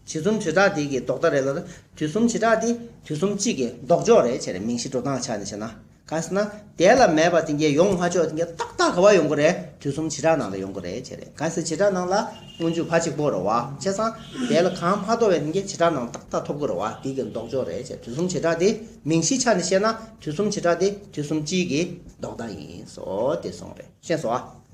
བྱེ་གསུམ་བྱེ་བྲག་དེའི་གི་འདོགས་རྟགས་རེད་ལ། དུས་གསུམ་བྱེ་བྲག་དེ་དུས་གསུམ་གཅིག་གི་འདོགས་འཇོག་རེད་བྱས་རེད་མིང་གཞི་འགྲོ་སྟངས་ཆ་ནས་བྱས་ན། གང་ཟེར་ན། དེ་ལ་མེད་པ་དེ་འགའི་ཡོང་མ་ཆོག་དེ་འགའི་ཏག་ཏག་ག་བ་ཡོང་གི་རེད་དུས་གསུམ་བྱེ་བྲག་ནང་ལ་ཡོང་གི་རེད་བྱས་རེད་གང་ཟེར་བྱེ་བྲག་ནང་ལ་སྔོན་འཇུག་བ་གཅིག་པོ་རེད་བ་བྱས་ཙང་དེ་ལ་གང་མ་ཐོབ་བས་དེ་འགའི་བྱེ་བྲག་ནང་ཏག་ཏག་ཐོབ་གི་རེད་བ་དེའི་གི་འདོགས་འཇོག་རེད་བྱས་དུས་གསུམ་བྱེ་བྲག་དེའི་མིང་གཞི་ཆ་ནས་བཤད་ན། དུས་གསུམ་བྱེ་བྲག་དེ་དུས་གསུམ་གཅིག་གི་ལྡོག་ཟླ་ཡིན། སོ་སྟེ་གསུངས་པས་ཤེས་སོ།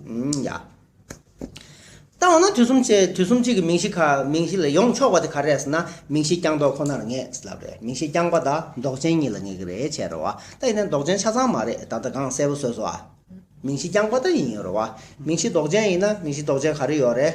ཡ། ལྟ་བ་ན་དུས་གསུམ་བྱེ་དུས་གསུམ་གཅིག་གི་མིང་གཞི་ག་མིང་གཞི་ལ་ཡོངས་ཕྱོགས་པ་དེ་ག་རེད་ཟེར་ན་མིང་གཞི་རྐྱང་ཟློག་ཁོ་ནར་ངེས་ལབ་རེད་མིང་གཞི་རྐྱང་པ་དང་ཟློག་ཅན་གཉིས་ལ་ངེས་ཀྱི་རེད་བྱས་རེད་བ་ད་ཡིན་ན་ཟློག་ཅན་ཆ་ཚང་མ་རེད་ད་ལྟ་གང་གསལ་པོ་བཟོས་སོ་ཨ། མིང་གཞི་རྐྱང་པ་ད་ཡིན་ཡོད་རེད་བ་མིང་གཞི་ཟློག་ཅན་ཡིན་ན་མིང་གཞི་ཟློག་ཅན་ག་རེ་ཡོད་རེད།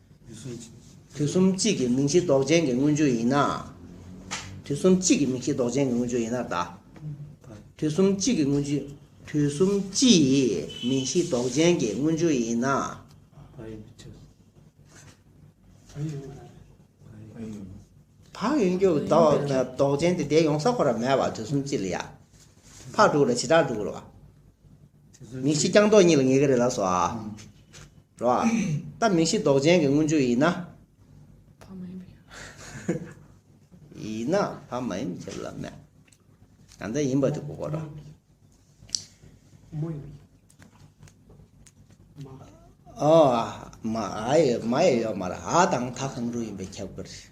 དུས་གསུམ་གཅིག་གི་མིང་གཞི་ལྡོག་ཅན་གྱི་མངོན་བརྗོད་ཡིན་ན། དུས་གསུམ་གཅིག་གི་མིང་གཞི་ལྡོག་ཅན་གྱི་མངོན་བརྗོད་ཡིན་ན་དག། དུས་གསུམ་གཅིག་གི་མངོན་བརྗོད། དུས་གསུམ་སྤྱི་ཡི་མིང་གཞི་ལྡོག་ཅན་གྱི་མངོན་བརྗོད་ཡིན་ན། བ་ཡོན་གྱི་ལྡོག་ཅན་དེ་དེ་ཡོང་ས་ཁོ་ན་མེད་པ་དུས་གསུམ་སྤྱི་ལ་ཡ། ཕག་དྲུག་ལ་བྱེ་བྲག་དྲུག་ལ་བ། མིང་གཞི་རྐྱང་ཟློག་གཉིས་ལ་ངེས་ཀྱི་རེད་ལགས་སོ། རོ་ཨ། ད་མིང་གཞི་ཟློག་ཅན་གྱི་སྔོན་བྱོན་ཡིན་ན། ཕ་མ་ཡིན་པའི་ཁྱབ་ལ། ཡིན་ན་ཕ་མ་ཡིན་པའི་ཁྱབ་ལ་མེད། ད་ལྟ་ཡིན་པ་དེ་གོ་རོགས། ཨོ་ཨ། མ་ཨ་ཡི་མ་ཡི་ཡོད་མ་རེད་ཨ་དང་ད་གང་རུང་ཡིན་པའི་ཁྱབ་གི་རེད།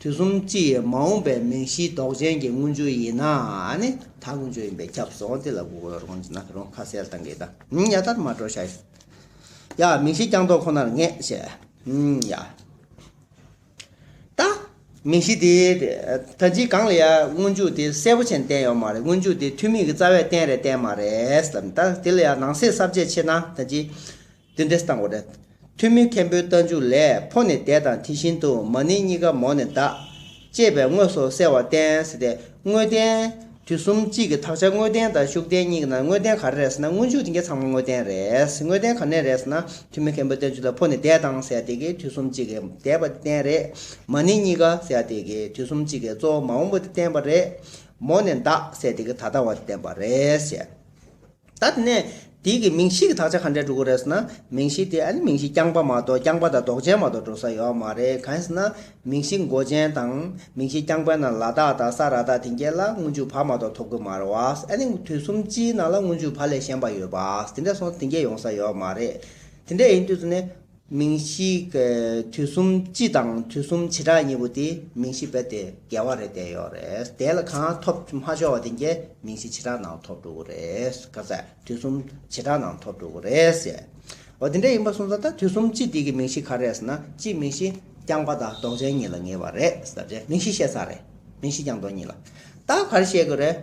དུས་གསུམ་སྤྱི་ཡི་མ་འོངས་པའི་མིང་གཞིའི་མདོག་ཅན་གྱི་དངུལ་ཆུ་ཡིན་ན་ནི་ད་དངུལ་ཆུ་ཡིན་པས་ཁྱབ་སོང་དེ་ལ་གུ་གུལ་རོང་ཅི་ན་རོང་ཁ་གསལ་བཏང་གི་དང་ཡ་དར་མ་དྲོ་ཤ་ཡི་ཡ་མིང་གཞི་རྐྱང་མདོག་ཁོ་ནར་ངེས་བྱས་ཡ། ད། མིང་གཞི་དེ་ད་ལྗིད་གང་ལ་ཡ་དངུལ་ཆུ་དེ་གསལ་པོ་ཆེན་བསྟན་ཡོད་མ་རེད་དངུལ་ཆུ་དེ་ཐུན་མིན་གྱི་རྩ་བས་བསྟན་རེ་བསྟན་མ་རེད་དམ་ད་དེ་ལ་ཡ་ནང་གསེས་གསར་བརྗེ་ཆེ་ན་ད་ལྗིད་འདི་འདྲས་བཏང་བ་རེད། ཐུན་མིན་མཁན་པོའི་རྟ་མཇུག་ལས་འཕོ་ནས་འདས་དང་དེ་བཞིན་དུ་མ་ནིང་གཉིས་ཀ་མོ་ནས་འདག། ཅེས་པའི་དངོས་སུ་གསལ་བར་བསྟན། དངོས་བསྟན། དུས་གསུམ་གཅིག་གི་དག་ཆ་དངོས་བསྟན་དང་ཤུགས་བསྟན་གཉིས་ཀྱི་ནང་དངོས་བསྟན་ག་རེ་རེད་ཟེར་ན་སྔོན་འཇུག་འདི་འགའ་ཚང་མ་དངོས་བསྟན་རེད། དངོས་བསྟན་ག་ནས་རེད་ཟེར་ན་ཐུན་མིན་མཁན་པོའི་རྟ་མཇུག་ལས་འཕོ་ནས་འདས་དང་ཟེར་དེ་གའི་དུས་གསུམ་གཅིག་གི་འདས་པ་དེ་བསྟན་རེད། མ་ནིང་གཉིས་ཀ་ཟེར་དེ་གའི་དུས་གསུམ་གཅིག་གི་གཙོ་བོ་མ་འོངས་པ་དེ་བསྟན་པ་རེད། མོ་ནས་འདག་ཟེར་དེ་གའི་ད་ལྟ་བ་དེ་བསྟན་པ་རེད། ད་ནས་དེ་གི་མིང་གཞི་གི་དག་ཆ་ག་འདྲས་འགྲོ་གི་རེད་ཟེར་ན་མིང་གཞི་དེ་ཨ་ནི་མིང་གཞི་རྐྱང་པ་མ་གཏོགས་རྐྱང་པ་དང་རྡོག་ཅན་མ་གཏོགས་འགྲོ་ས་ཡོད་མ་རེད་གང་ཟེར་ན་མིང་གཞི་མགོ་ཅན་དང་མིང་གཞི་རྐྱང་པའི་ནང་ལ་དྭགས་དང་ས་རཱ་དྭགས་དེ་འགའི་ལ་དངུལ་མཇུག་བར་མ་གཏོགས་ཐོབ་གི་མ་རེད་བ་ཨ་ནི་དུས་གསུམ་སྤྱིའི་ནང་ལ་དངུལ་མཇུག་བར་ལས་གཞན་པ་ཡོད་པ་དེ་འདྲས་སོང་དེ་འགའི་ཡོང་ས་ཡོད་མ་རེད་དེ་འདྲས་ཡིན་དུས་སུ་ནི། མིང་གཞི། དུས་གསུམ་སྤྱི་དང་དུས་གསུམ་བྱེ་བྲག་གཉིས་པོ་དེ་མིང་གཞི་བས་དེ་འགལ་བ་རེད་བསྡད་ཡོད་རེད་དེ་ལ་གང་ཐོབ་མ་ཆོག་བ་དེ་འགལ་མིང་གཞི་བྱེ་བྲག་ནང་ཐོབ་འགྲོ་གི་རེད་ག་ཚད་དུས་གསུམ་བྱེ་བྲག་ནང་ཐོབ་འགྲོ་གི་རེད་ཟེར་བ་དེ་འདྲ་ཡིན་པ་སོང་ཙང་ད་དུས་གསུམ་སྤྱི་དེ་གི་མིང་གཞི་ག་རེད་ཟེར་ན་སྤྱི་མིང་གཞི་རྐྱང་པ་དང་ལྡོག་ཅན་གཉིས་ལ་ངེས་པ་རེད་ཟེར་རྗེས་མིང་གཞི་བཤད་ས་རེད་མིང་གཞི་རྐྱང་ལྡོག་གཉིས་ལ་ད་ག་རེ་བཤད་གི་རེད་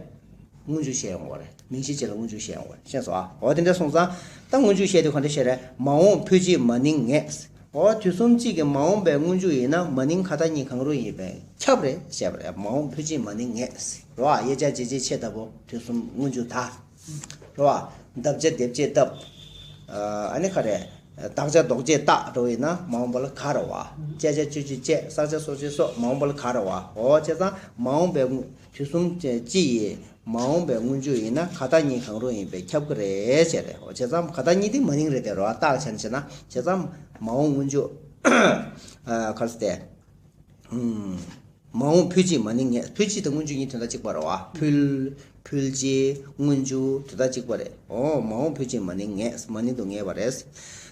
དངོས་འབྱོར་བཤད་ཡོང་གི་རེད། མིང་ཤེས་བྱས་ལ་དངོས་བྱུང་ཤེས་ཡང་འོ་ཤེས་སོ་ཨ་འོ་དེ་འདྲ་སོང་ཙང་ད་དངོས་བྱུང་ཤེས་དེ་གོ་འདྲ་ཤེས་རེད་མ་འོངས་ཕུལ་ཅིག་མ་ནིང་ངས་འོ་དུས་གསུམ་གཅིག་གི་མ་འོངས་པའི་དངོས་བྱུང་ཡིན་ན་མ་ནིང་ཁ་ད་གཉིས་གང་རུང་ཡིན་པས་ཁྱབ་རེད་ཤེས་པ་རེད་མ་འོངས་ཕུལ་ཅིག་མ་ནིང་ངས་རོ་ཨ་ཡེ་ཅག་ཇེ་ཇེ་ཆེ་ལྟ་བུ་དུས་གསུམ་དངོས་བྱུང་ད་རོ་ཨ་འདབ་བརྒྱ་སྡེབ་བྱེད་སྟབས་ཨ་ནི་ཁ་རེད་བདག་ཅག་ལྡོག་བྱེད་རྟགས་འགྲོ་བ་ཡིན་ན་མ་འོངས་པ་ལ་ག་རོ་ཨ་དཔྱད་བྱ་སྤྱོད་བྱེད་བཅས་བསགས་བྱ་གསོག་བྱེད་སོགས་མ་འོངས་པ་ལ་ག་རོ་ཨ་འོ་བྱས་ཙང་མ་འོངས་པའི་དུས་གསུམ་སྤྱི་ཡི་མ་འོངས་པའི་སྔོན་བྱོན་ཡིན་ན་ཁ་བརྡ་གཉིས་གང་རུང་ཡིན་པས་ཁྱབ་ཀི་རེད་བྱས་རེད་ཨོ་བྱས་ཙང་ཁ་བརྡ་གཉིས་དེ་མ་ཡིན་རེད་དེ་རོ་ཨ་བརྟག་བྱས་ནས་བྱས་ན་བྱས་ཙང་མ་འོངས་སྔོན་བྱོན་གར་སྟེ། མ་འོངས་ཕུལ་སྤྱི་མ་ནི་ངས་ཕུལ་སྤྱི་དང་སྔོན་བྱོན་གཉིས་དོན་དག་གཅིག་པ་རོ་ཨ་ཕུལ་ཕུལ་སྤྱི་སྔོན་བྱོན་དོན་དག་གཅིག་པ་རེད་ཨོ་མ་འོངས་ཕུལ་སྤྱི་མ་ནི་ངས་མ་ནི་དུ་ངེས་པ་རེད།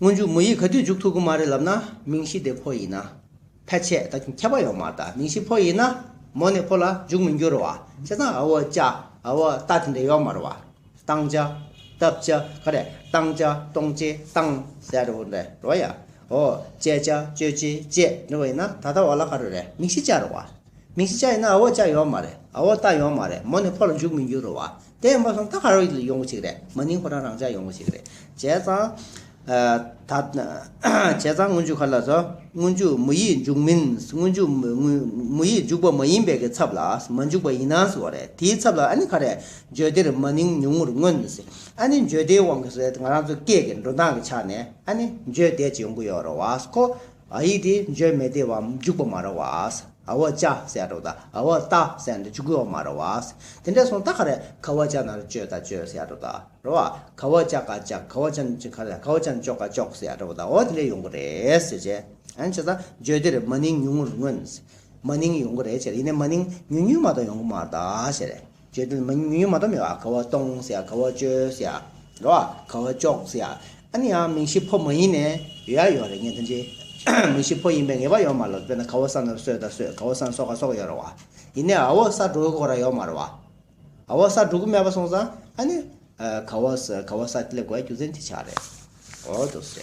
སྔོན་འཇུག་མུ་ཡི་ག་དུས་འཇུག་ཐུབ་གི་མ་རེད་ལབ་ན་མིང་གཞི་དེ་ཕོ་ཡིན་ན། ཕལ་ཆེར་ད་ཁྱབ་པ་ཡོང་མ་ད་མིང་གཞི་ཕོ་ཡིན་ན་མོ་ནས་ཕོ་ལ་འཇུག་མི་འགྱུར་བ་བྱས་ཙང་ཨ་བོ་ཅག་ཨ་བོ་ལྟ་དེ་འདྲ་ཡོད་མ་རེད་བ། སྟངས་ཅག་སྟབས་ཅག་ག་རེ་སྟངས་ཅག་སྟོང་ཅེ་སྟང་ཟེར་བ་རེད་བ་ཡ། ཨོ་ཅེ་ཅག་ཅོ་ཅེ་ཅེ་འདྲ་བ་ཡིན་ན་ད་ལྟ་བ་ལ་ག་རེ་རེད་མིང་གཞི་ཅག་རེད་བ། མིང་གཞི་ཅག་ཡིན་ན་ཨ་བོ་ཅག་ཡོད་མ་རེད་ཨ་བོ་ལྟ་ཡོད་མ་རེད་མོ་ནས་ཕོ་ལ་འཇུག་མི་འགྱུར་བ་དེ་མ་སོང་ད་ཧར་ཡོང་གི་ཆིག་རེད་མ་ནིང་ཁོ་རང་རང་ཅག་ཡོང་གི་ཆིག་རེད་བྱས་ཙང། བྱས་ཙང་སྔོན་འཇུག་ག་ལ་བཟོ་སྔོན་འཇུག་མི་ཡིས་འཇུག་མིན་སྔོན་འཇུག་མི་ཡིས་འཇུག་པ་མ་ཡིན་པའི་གི་ཚབ་ལ་མ་འཇུག་པ་ཡིན་ནའང་འོ་རེད་དེའི་ཚབ་ལ་ཨ་ནི་ག་རེད་འཇོལ་དེར་མ་ནིང་ཉུང་ངུར་མངོན་ཨ་ནི་འཇོལ་དེའི་དབང་གིས་ང་རང་ཚོ་སྐད་ཀྱི་འགྲོ་སྟངས་ཀྱི་ཆ་ནས་ཨ་ནི་འཇོལ་དེ་ཅིག་ཡོང་གི་ཡོད་རེད་བ་ཁོ། ཨ་ཡིག་དེ་འཇོལ་མེད་དེ་བའམ་འཇུག་པ་མ་ར་བ། ཨ་བ་ཅཱ་སེ་ཨ་དྲོ་ད་ཨ་བ་ཏཱ་སེ་ཨ་འདི་འཇུག་དགོས་བ་མ་ར་བ། དེ་འདྲ་སོང་ད་ཁ་ར་ཁ་བ་ཅཱ་ན་ར་ཅོད་ད་ཅོད་སེ་ཨ་དྲོ་ད་ར་བ། ཁ་བ་ཅཱ་ཀ་ཅག་ཁ་བ་ཅཱ་ཁ་ར་ཁ་བ་ཅཱ་ན་ཅོག་ཀ་ཅོག་སེ་ཨ་དྲོ་བ་ད་ཨོ་དེ་འདྲ་ཡོང་གི་རེད་ཟེར་བྱས། ཨན་བྱས་ད་འཇོལ་དེར་མ་ནིང་ཉུང་ངུར་མངོན། མ་ནིང་ཡོང་གི་རེད་བྱས། ཡིན་ནས་མ་ནིང་ཉུང་ཉུང་མ་གཏོགས་ཡོང་གི་མ་ར་ད་བྱས། བརྗོད་དོན་མ་ཉུང་ཉུང་མ་གཏོགས་མེད་པ་ག་བ་གཏོང་ཟེར་ཡ་ག་བ་བཅོལ་ཟེར་ཡ་ར་བ་ག་བ་གཅོག་ཟེར་ཡ་ཨ་ནི་ཡང་མིང་གཞི་ཕོ་མ་ཡིན་ནས་ཡོད་ཡ་ཡོད་རེད་ངས་འདི་འདྲི་མིང་གཞི་ཕོ་ཡིན་པའི་ངེས་པ་ཡོད་མ་རེད་དཔེར་ན་ག་བ་ས་ནབ་སོད་ད་སོད་ག་བ་ས་ནས་སོག་ག་སོག་ཡོད་ར་བ་ཡིན་ནས་ཨ་བོ་ས་འབྲུག་གི་གོ་ར་ཡོད་མ་ར་བ་ཨ་བོ་ས་འབྲུག་གི་མེད་པ་སོང་ཙང་ཨ་ནི་ག་བ་ས་ག་བ་ས་སླེབས་དགོས་ཡ་རྒྱུ་མཚན་དེ་ཆགས་རེད་འོ་དོ་སེ།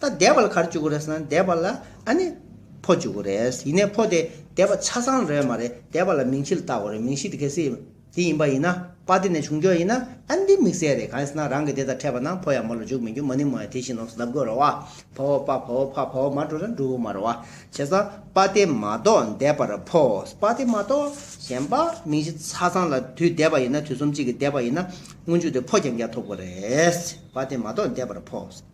ད་སྡེ་པ་ལ་གར་བཅུག་གོ་རེད་ཟེར་ན་སྡེ་པ་ལ་ཨ་ནི་ཕོ་བཅུག་གོ་རེད་ཡིན་ནའི་ཕོ་དེ་སྡེ་པ་ཆ་ཚང་རེད་མ་རེད་སྡེ་པ་ལ་མིང་གཞི་ལ་བཏགས་གོ་རེད་མིང་གཞི་དེ་གལ་སྲིད་འདི་ཡིན་པ་ཡིན་ན་པ་དེ་ནས་བྱུང་རྒྱུ་ཡིན་ན་ཨ་ནི་འདི་དམིགས་བསལ་རེད་གང་ཡིན་ཟེར་ན་རང་གི་སྡེ་དང་འཕྲད་པ་ན་ཕོ་ཡང་མོ་ལ་འཇུག་མི་འཇུག་མ་ནི་མོ་ཡང་དེ་བཞིན་ནོགས་སུ་གདབ་དགོས་རེད་བ་ཕོ་བོ་པ་ཕོ་བོ་ཕ་ཕོ་བོ་མ་འགྲོ་ན་འགྲུབ་བོ་མ་རེད་བ་བྱས་ཙང་པ་དེ་མ་གཏོགས་སྡེ་པར་ཕོ་པ་དེ་མ་གཏོགས་གཞན་པ་མིང་གཞི་ཆ་ཚང་ལ་དུས་སྡེ་པ་ཡིན་ན་དུས་གསུམ་གཅིག་གི་སྡེ་པ་ཡིན་ན་སྔོན་འཇུག་དེ་ཕོ་རྐྱང་རྐྱང་ཐོབ་གོ་རེད་བ་དེ་མ་གཏོགས་སྡེ་པར་ཕོ།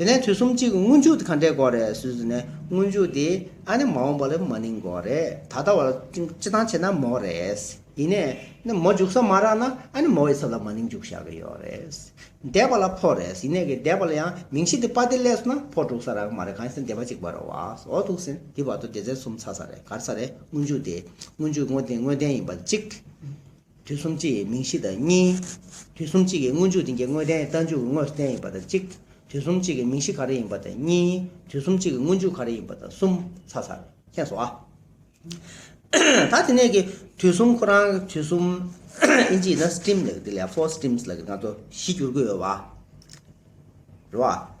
དེ་ནས་དུས་གསུམ་གཅིག་སྔོན་འཇུག་དེ་གང་འདྲའི་འགོག་རེད་ཟུར་ཟུར་ནས་སྔོན་འཇུག་དེ་ཨ་ནི་མ་འོངས་པ་ལ་མ་ནིང་འགོག་རེད་ད་ལྟ་བར་སྤྱི་སྟངས་བྱས་ན་མོག་རེད་ཡིན་ནས་ནི་མོ་འཇུག་ས་མ་རག་ན་ཨ་ནི་མོ་ཡི་ཚབ་ལ་མ་ནིང་འཇུག་བཞག་གི་ཡོག་རེད་འདས་པ་ལ་ཕོག་རེད་ཡིན་ནས་གི་འདས་པ་ལ་ཡང་མིང་གཞི་དེ་པ་དེ་སླད་སོ་ན་ཕོག་འགྲུག་ས་རག་གི་མ་རེད་གང་ཡིན་ཟེར་འདས་པ་གཅིག་པ་རོ་བ་འོག་ཐུག་ཟིན་དེ་བར་དུ་སྡེ་ཚན་གསུམ་ཚར་ས་རེད་གར་ས་རེད་སྔོན་འཇུག་དེ་སྔོན་འཇུག་དངོས་བདེན་ཡིན་པ་གཅིག། དུས་གསུམ་སྤྱི་ཡི་མིང་གཞི་དང་གཉིས། དུས་གསུམ་གཅིག་གི་དངོས་འཇུག་འདི་འགའི་དངོས་བསྟན་རྟ་མཇུག་གི་དངོས་སུ་བསྟན་ཡིན་པ་དང་གཅིག། དུས་གསུམ་གཅིག་གི་མིང་གཞི་ག་རེ་ཡིན་པ་དང་གཉིས། དུས་གསུམ་གཅིག་གི་དངོས་འཇུག་ག་རེ་ཡིན་པ་དང་གསུམ། ཚ་ཚ་རེད་མཁྱེན་སོང་ཨ། ད་དེ་ནས་ཀྱི་དུས་གསུམ་ཁོ་རང་གི་དུས་གསུམ། ཨིན་ཇིའི་ན Steam ལས་ཀྱི་འདི་ལས Four Steams ལ་ཀྱི་ང་ཚོ་གཞི་བསྒྱུར་གྱི་ཡོད་བ། རེད་བ།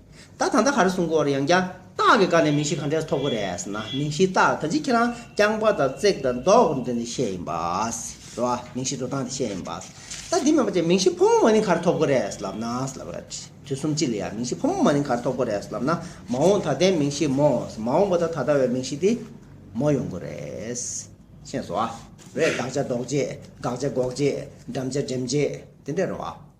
ད་ད་ད་ག་རེ་གསུང་གོ་རེ་ཡང་ཀྱང་རྟགས་ཀྱི་བཀའ་ནས་མིང་གཞི་ག་འདྲས་ཐོབ་གོ་རེས་ན་མིང་གཞིའི་རྟགས་ད་ཅི་ཁྱེད་རང་རྐྱང་པ་དང་བརྩེགས་དང་མདོག་འདི་ནས་བཤད་ཡིན་པས་རེད་བ་མིང་གཞི་འགྲོ་སྟངས་འདི་བཤད་ཡིན་པས་ད་འདི་མེད་པ་ཅན་མིང་གཞི་ཕོ་མོ་མ་ནིང་ག་རེ་ཐོབ་གོ་རེས་ལབ་ན་ལབ་རེད་དུས་གསུམ་སྤྱི་ལ་ཡང་མིང་གཞི་ཕོ་མོ་མ་ནིང་ག་རེ་ཐོབ་གོ་རེས་ལབ་ན་མ་འོངས་ད་ལྟའི་མིང་གཞི་མོ་མ་འོངས་པ་ད་ད་ལྟ་བའི་མིང་གཞི་དེ་མོ་ཡོང་གོ་རེས་ཤེས་སོ་བ་རེད་དགག་བྱ་ལྡོག་བྱེད་དགག་བྱ་འགོག་བྱེད་འགྲམ་བྱ་འགྲེམ་བྱེད་དེ་འདྲས་རེད་བ།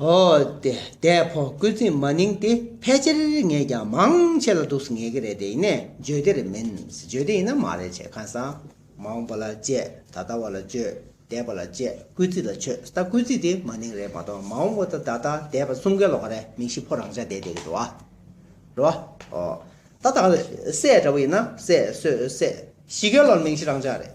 ཨོ་དེ་དེ་ཕོ་རྒོད་རྩིས་མ་ནིང་དེ་ཕལ་ཆེར་ངས་ཀྱང་མང་ཆེ་ལ་འདུག་ངེས་ཀྱི་རེད་དེ་ཡིན་ནས་བརྗོད་དེ་རེད་མིན་བརྗོད་དེ་ཡིན་ན་མ་རེད་བྱས་ཁ་སང་མང་པོ་ལ་བཅས་ད་ལྟ་བ་ལ་བཅོས་དད་པ་ལ་བཅས་རྐུས་རྩིས་ལ་ཆོས་ལྟ་རྐུས་རྩིས་དེ་མ་ནིང་རེད་མ་གཏོགས་མང་བོ་ད་ད་དད་པ་སུམ་ཀའི་ལོག་ཀ་རེད་མིང་ཤི་ཕོ་རང་ཅག་དད་དད་གི་འགྲོ་བ་འགྲོ་བ་ཨོ་ད་ད་ལ་སྲས་འདྲ་བོ་ཡིན་ན་སྲས་གསོད་སྲས་ཤི་ཀའི་ལོག་མིང་ཤི་རང་ཅག་རེད།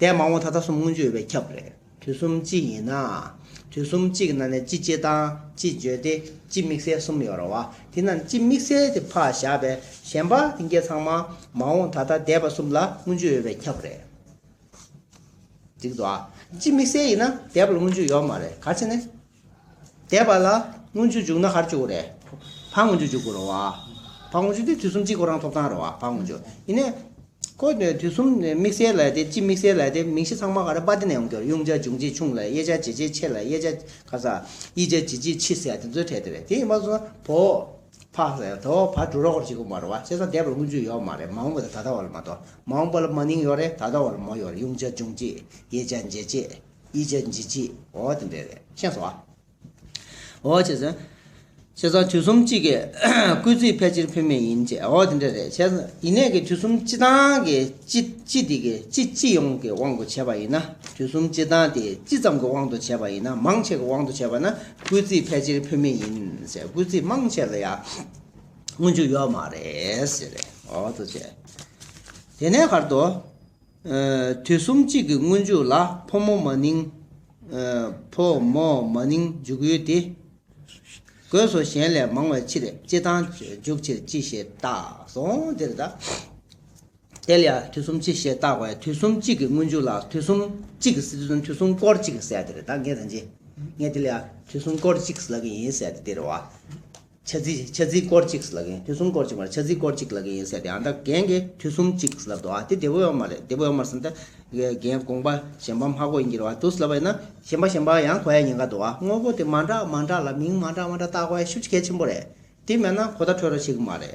ལྡན་མང་བོ་ད་ལྟ་གསུམ་སྔོན་བརྗོད་པས་ཁྱབ་རེད། དུས་གསུམ་གཅིག་ཡིན་ན། དུས་གསུམ་གཅིག་གི་ནང་ནས་སྤྱི་སྤྱི་དང་སྤྱི་བརྗོད་དེ་སྤྱི་དམིགས་བསལ་གསུམ་ཡོད་རེད་བ། དེ་ན་སྤྱི་དམིགས་བསལ་དེ་ཕག་བཞག་པས་གཞན་པ་དེ་འགའི་ཚང་མ་མང་བོ་ད་ལྟ་ལྡན་པ་གསུམ་ལ་སྔོན་བརྗོད་ཡོད་པས་ཁྱབ་རེད། འགྲིག་འདུག་ཨ། སྤྱི་དམིགས་བསལ་ཡིན་ན་ལྡན་པ་ལ་སྔོན་བརྗོད་ཡོད་མ་རེད་ག་ཚད་ནས། འདས་པ་ལ་སྔོན་ཆུ་འཇུག་ན་ཧར་ཆུ་འོ་རེད། བ་སྔོན་ཆུ་འཇུག་དགོས་རོ་བ། བ་སྔོན་ཆུ་དེ་དུས་གསུམ་གཅིག་གོ་རང་ཐོབ་ཐང་རོ་བ་བ་སྔོན་ཆུ། ཡིན་ནས། ཁོ་ནི་དུས་གསུམ་དམིགས་བསལ་ལས་དེ་ཅི་དམིགས་བསལ་ལས་དེ་མིང་གཞི་ཚང་མ་ག་རེ་པ་དེ་ནས་ཡོང་གི་རེད་དབྱུང་བྱ་འབྱུང་བྱེད་ཆུང་ལས་དབྱེ་བྱ་འབྱེད་བྱེད་ཆེ་ལས་དབྱེ་བྱ་ཁ་ས། དབྱེ་བྱ་འབྱེད་བྱེད་ཕྱི་ཟེར་དེ་ཚོའི་གྲས་དེ་རེད་དེ་ཡིན་པ་སོང་ན་བོ། བ་ཟེར་དོ་བ་འབྲུ་རོགས་རེད་ཅིག་གོ་མ་རོ་བ་བྱས་ཙང་འདས་པ་ལ་སྔོན་ཆུ་ཡོད་མ་རེད་མ་འོངས་པ་དང་ད་ལྟ་བ་ལ་མ་གཏོགས་མ་འོངས་པ་ལ་མ་ནིང་ཡོད་རེད་ད་ལྟ་བ་ལ་མོ་ཡོད་རེད་དབྱུང་བྱ་འབྱུང་བྱེད་དབྱེ་བྱ་འབྱེད་བྱེད། ཡིད་བྱེད་འཇིག་བྱེད་འོ་དེ་འདྲས་རེད་ཤེས་སོ། འོ་བྱས་ཟིན། བྱས་ཙང་དུས་གསུམ་གཅིག་གི་སྐུལ་རྩིས་ཕལ་ཆེར་ཕུལ་མེད་ཡིན་བྱས་འོ་དེ་འདྲས་རེད་བྱས་ཟིན། ཡིན་ནས་ཀྱི་དུས་གསུམ་སྤྱི་དང་གི་སྤྱི་སྤྱི་དེ་གི་སྤྱི་སྤྱི་ཡོངས་ཀྱི་དབང་དུ་བྱས་པ་ཡིན་ན་དུས་གསུམ་སྤྱི་དང་དེ་སྤྱི་ཙམ་གྱི་དབང་དུ་བྱས་པ་ཡིན་ན་མང་ཆེ་གི་དབང་དུ་བྱས་པ་ན་སྐུལ་རྩིས་ཕལ་ཆེར་ཕུལ་མེད་ཡིན་བྱས་སྐུལ་རྩིས་མང་ཆེ་ལ་ཡང་དངོས་འཇུག་ཡོད་མ་རེད་ཟེར་རེད་འོ་དུ་བྱས། དེ་ནས་བར་དུ། དུས་གསུམ་གཅིག་གི་སྔོན་འཇུག་ལ་ཕོ་མོ་མ་ནིང། ཕོ་མོ་མ་ནིང་འཇུག་ཡུལ་ཏེ། དགོས་སོ་གཞན་ལས་མང་བའི་ཕྱིར་སྤྱི་དང། འཇུག་ཕྱིར་སྤྱི་ཞེས་བཏགས་སོ། འདིར་ད་དེ་ལ་དུས་གསུམ་སྤྱི་ཞེས་བཏགས་པས་དུས་གསུམ་གཅིག་གི་སྔོན་འཇུག་ལ་དུས་གསུམ་གཅིག་གི་སྲིད་དུ་དུས་གསུམ་སྐོར་གཅིག་གི་སྲིད་ཡ་འདིར་ད་ངེས་དང་འབྱེད་ངེས་དེ་ལ་དུས་གསུམ་སྐོར་གཅིག་གི་སྲིད་ལ་གི་ཡིན་སྲིད་དེ་དེར་བ། ཆ་ཚིག་ཆ་ཚིག་སྐོར་ཅིག་ལ་གན་དུས་གསུམ་སྐོར་ཅིག་མ་རེད་ཆ་ཚིག་སྐོར་ཅིག་ལ་གན་ཡིན་ཟེར་ཏེ་ཨ་མདའ་གན་གི་དུས་གསུམ་གཅིག་ལབ་འདུག་ཨ་དེ་དེ་བོ་ཡོག་མ་རེད་དེ་བོ་ཡོག་མར་སེམས་ད་གན་དགོངས་པ་གཞན་པ་མ་གོ་ཡིན་གྱི་རེད་བ་དུས་ལབ་པ་ཡིན་ན་གཞན་པ་གཞན་པ་ཡང་གོ་ཡ་ཡིན་ག་འདུག་ཨ་དངོས་པོ་དེ་མ་འདྲ་མ་འདྲ་ལ་མིང་མ་འདྲ་མ་འདྲ་བཏགས་གོ་ཡ་ཤུགས་གལ་ཆེན་པོ་རེད་དེ་མེད་ན་གོ་བརྡ་འཕྲོད་རོགས་ཤིག་མ་རེད།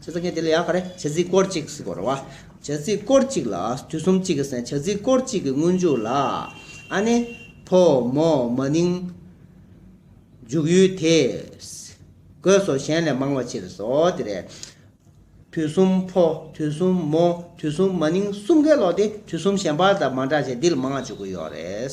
བྱེད་རྩིས་ངེས་དེ་ལས་ཡང་ག་རེ། བྱེད་རྩིས་སྐོར་གཅིག་གཟིགས་སྐོར་བ། བྱེད་རྩིས་སྐོར་གཅིག་ལ་དུས་གསུམ་གཅིག་གི་སན་བྱེད་རྩིས་སྐོར་གཅིག་གི་སྔོན་འཇུག་ལ། ཨ་ནི། ཕོ་མོ་མ་ནིང། འཇུག་ཡུལ་དེ། གོས་སོགས་གཞན་ལས་མང་བ་ཕྱིར་སོ་དེ་རེད། དུས་གསུམ་ཕོ་དུས་གསུམ་མོ་དུས་གསུམ་མ་ནིང་གསུམ་གའི་ལོགས་ཏེ་དུས་གསུམ་གཞན་པར་དང་མ་འདྲ་ཞིང་འདི་ལ་མང་བ་འཇུག་གི་ཡོད་རེད།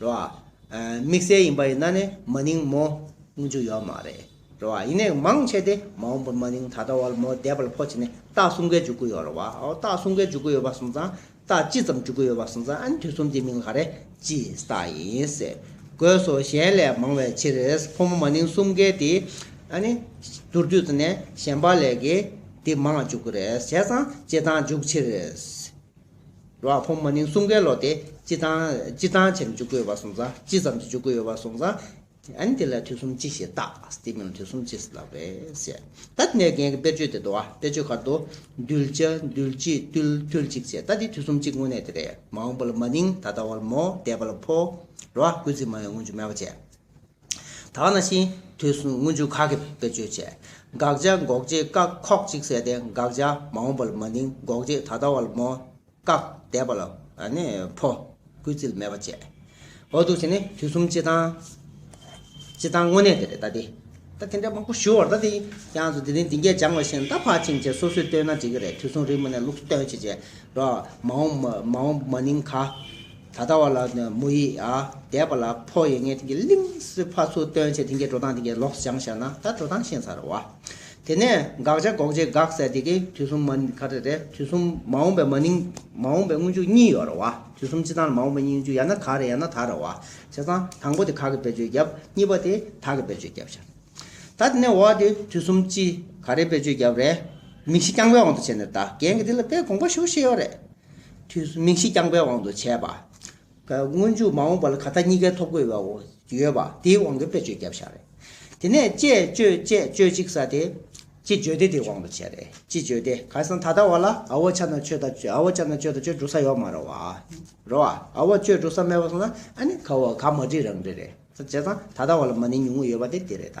རེད་བ། དམིགས་བསལ་ཡིན་པ་ཡིན་ན་ནི་མ་ནིང་མོ་དངུལ་ཆུ་ཡོད་མ་རེད་རེད་བ། ཡིན་ནའི་མང་ཆེ་སྟེ་མ་འོངས་པར་མ་ནིང་ད་ལྟ་བར་མོ་བསྡད་པ་ལ་ཕོ་བྱས་ནས་རྟགས་གསུམ་ཀའི་འཇུག་སྒོ་ཡོད་རེད་བ། རྟགས་གསུམ་ཀའི་འཇུག་སྒོ་ཡོད་པ་སོང་ཙང་རྟགས་ཅི་ཙམ་འཇུག་སྒོ་ཡོད་པ་སོང་ཙང་ཨན་དུས་གསུམ་དེའི་མིང་ལ་རེད་ཅེས་རྟགས་ཡིན་ཟེར་དགོས་སོ་གཞན་ལས་མང་བའི་ཕྱིར་རེད་ཕོ་མོ་མ་ནིང་གསུམ་ཀའི་དེ་ཨ་ནི་དུར་དུས་ཙམ་ནས་གཞན་པ་ལས་ཀའི་དེ་མང་ལ་འཇུག་གི་རེད་བྱས་ཙང་བྱེད་སྟངས་འཇུག་ཕྱིར་རེད། རོ་ཨ་ཁོང་མ་ནིང་གསུམ་ཀའི་ལོ་དེ་ཅི་ཙང་ཅི་ཙང་བྱེད་ནས་འཇུག་གི་ཡོད་པ་སོང་ཙང་ཅི་ཙམ་གྱིས་འཇུག་གི་ཡོད་པ་སོང་ཙང་ཨན་དེ་ལ་དུས་གསུམ་ཅི་ཞེས་བཏགས་སྟེ་མིང་ལ་དུས་གསུམ་ཅེས་བཏགས་པས་བཤད། ད་དེ་ནས་རྒན་གྱི་དཔེར་བརྗོད་དེ་འདུག་ཨ་དཔེར་བརྗོད་ཁར་དུ། འདུལ་བྱ་འདུལ་གྱིས་བཏུལ་བཏུལ་གཅིག་བྱས་ད་དེ་དུས་གསུམ་གཅིག་དངོས་གནས་དེ་རེད་མ་འོངས་པ་ལ་མ་ནིང་ད་ལྟ་བ་ལ་མོ་འདས་པ་ལ་ཕོ། རོ་ཨ་ཀུན་གཟིགས་མ་ཡོང་སྔོན་ཆུ་མེད་པ་བྱས། ད་ནང་བཞིན་དུས་གསུམ་དངུལ་ཆུ་ཁ་གིས་བེད་སྤྱོད་བྱས། དགག་བྱ་འགོག་བྱེད་བཀག་ཁོག་གཅིག་བསལ་ཏེ་དགག་བྱ་མ་འོངས་པ་ལ་མ་འདིང་འགོག་བྱེད་ད་ལྟ་བ་ལ་མོ། བཀག་འདས་པ་ལ་ཕོ། གུས་བརྩི་མེད་པར་བྱས། འོ་ཐུག་བྱས་ནས་དུས་གསུམ་སྤྱི་དང། སྤྱི་དང་དངོས་གནས་དེ་རེད་ད་དེ། ད་དེ་འདྲ་མང་པོ་ཞུ་བར་ད་དེ་ཀྱང་ཟུར་དེ་རིང་འདི་འགས་སྦྱང་བ་བཞིན་ད་ཕར་ཕྱིན་ཕྱིན་སོ་སོས་བསྟོན་ན་འགྲིག་གི་རེད་དུས་གསུམ་རིང་མོ་ནས་ལུགས་སུ་སྟོན་བྱེད་བྱེད། རོགས། མ་འོངས་མ་འོངས་མ་ནིང་ག། ད་ལྟ་བ་ལ་མོ་ཡི་དད་པ་ལ་ཕོག་ཡེ་ངས་དེ་གི་གླིང་སི་ཕ་ཚུར་སྟོན་བྱས་དེ་གི་འགྲོ་སྟངས་དེ་གི་ལོགས་སུ་བྱང་བཞག་ན་ད་འགྲོ་སྟངས་ཤེས་ཚར་བ། དེ་ནས་དགག་བྱ་འགོག་བྱེད་དགག་བསལ་དེ་གི་དུས་གསུམ་མ་ག་རེ་རེད་དུས་གསུམ་མ་འོངས་པའི་མ་ནིང་མ་འོངས་པའི་སྔོན་འཇུག་གཉིས་ཡོད་རེད་བ་དུས་གསུམ་སྤྱི་དང་ལ་མ་འོངས་པའི་སྙིང་འཇུག་ཡང་ན་ག་རེ་ཡང་ན་ད་རེད་བ་བྱས་ཙང་དང་པོ་དེ་ག་གི་བེད་སྤྱོད་རྒྱབ་གཉིས་པ་དེ་ད་གི་བེད་སྤྱོད་རྒྱབ་བྱ། ད་དེ་ནས་བ་དེ་དུས་གསུམ་སྤྱི་ག་རེ་བེད་སྤྱོད་རྒྱབ་རེད་མིག་ཤེས་རྐྱང་པའི་དབང་དུ་བྱས་ནས་ད་རྒན་གི་དེ་ལ་དཔེ་དགོངས་པ་ཞུ་ཤེས་ཡོད་རེད་དུས་སུ་མིག་ཤེས་རྐྱང་པའི་དབང་དུ་བྱས་པ། སྔོན་འཇུག་མ་འོངས་པ་ལ་ག་ད་གཉིས་ཀའི་ཐོབ་གོ་བའོ། ཡོད་པ། དེའི་དབང་གིས་དཔེ་བརྗོད་རྒྱབ་བཞག་རེད། དེ་ནས་དཔྱད་བརྗོད་དཔྱད་བརྗོད་ཅིག་ས་དེ། ཅི་བརྗོད་དེ་དེའི་དབང་དུ་བྱས་རེད། ཅི་བརྗོད་དེ་གང་སང་ད་ལྟ་བ་ལ་ཨ་བོ་ཆ་ན་ཆོས་ད་ཨ་བོ་ཆ་ན་ཆོས་ད་ཆོས་འགྲོ་ས་ཡོག་མ་རོ་བ། རོ་བ། ཨ་བོ་ཆོས་འགྲོ་ས་མེད་པ་སོང་ན་ཨ་ནི་ག་བ་ག་མ་བྲིས་རང་བྲིས་རེད། བྱས་ཙང་ད་ད་བ་ལ་མ་ནི་ཉུང་ངུ་ཡོད་པ་དེ་དེ་རེད་ད།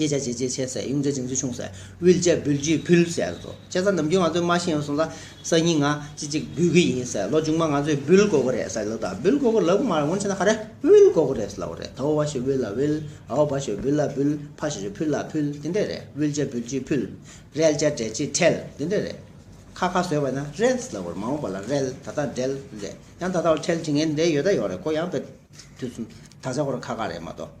གཡས་བྱ་བྱེད་ལྕེ་ཆེ་སེ་གཡུང་བྱ་བྱིན་ཚུལ་ཆུང་སེ་དབུལ་བྱ་འབུལ་བྱེད་ཕུལ་སེ་སོ་བྱེད་ས་ནམ་རྒྱུན་ང་ཚོས་མ་ཤེས་སོང་ད་སང་ཉིན་ང་ཅི་ཅིག་འབུལ་གི་ཡིན་སེ་ལོ་ཆུང་མ་ང་ཚོས་འབུལ་དགོས་ཀྱི་རེད་སེ་ལོ་ད་འབུལ་དགོས་ཀྱི་ལབ་གི་མ་རེད་སྔོན་ཆད་ན་ཁ་རེ་དབུལ་དགོས་ཀྱི་རེད་སེ་ལབ་གི་རེད་དོ་བ་ཞེས་དབུལ་ལ་དབུལ་ཨའོ་བ་ཞེས་འབུལ་ལ་འབུལ་ཕ་ཞེས་ཕུལ་ལ་ཕུལ་དེ་འདྲས་རེད་དབུལ་བྱ་འབུལ་བྱེད་ཕུལ་རལ་བྱ་འབྲལ་བྱེད་ཁྲལ་དེ་འདྲས་རེད་ཁ་ཁ་བཟོས་པ་ན་རལ་སེ་ལབ་གི་རེད་མ་འོངས་པ་ལ་རལ་ད་ལྟ་འབྲལ་རེད་ཡང་ད་ལྟ་བ་ཁྲལ་བྱེད་ངེས་འདི་ཡོད་ད་ཡོད་རེད་ཁོ་ཡང་བེད་ཐུག་སོང་ད་ཆ་ཁོ་ར་ཁ་ཁ་རེད་མ་གཏོགས་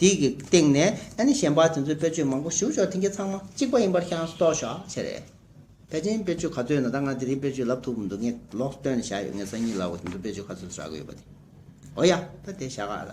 དེ་གི་སྟེང་ནས་ཨ་ནི་གཞན་པ་དེ་ཚོའི་དཔེར་བརྗོད་མང་པོ་ཞུ་ཞོག་དེ་གི་ཚང་མ་གཅིག་པ་ཡིན་པར་ཤངས་སུ་རྟོགས་ཞོག་ཆེ་རེད། བལ་ཆེན་དཔེར་བརྗོད་ག་ཚོད་ཡོད་ན་ད་ང་དེ་རིང་དཔེར་བརྗོད་ལབ་ཐུབ་འདུག་ངས་ལོག་སྟོན་ནས་བཞག་ཡོད་ངས་སང་ཉིན་ལ་བོ་དེ་ཚོ་དཔེར་བརྗོད་ག་ཚོད་བཞག་གི་ཡོད་པ་དེ་ཨོ་ཡ་ད་དེ་བཞག་ག་ལ།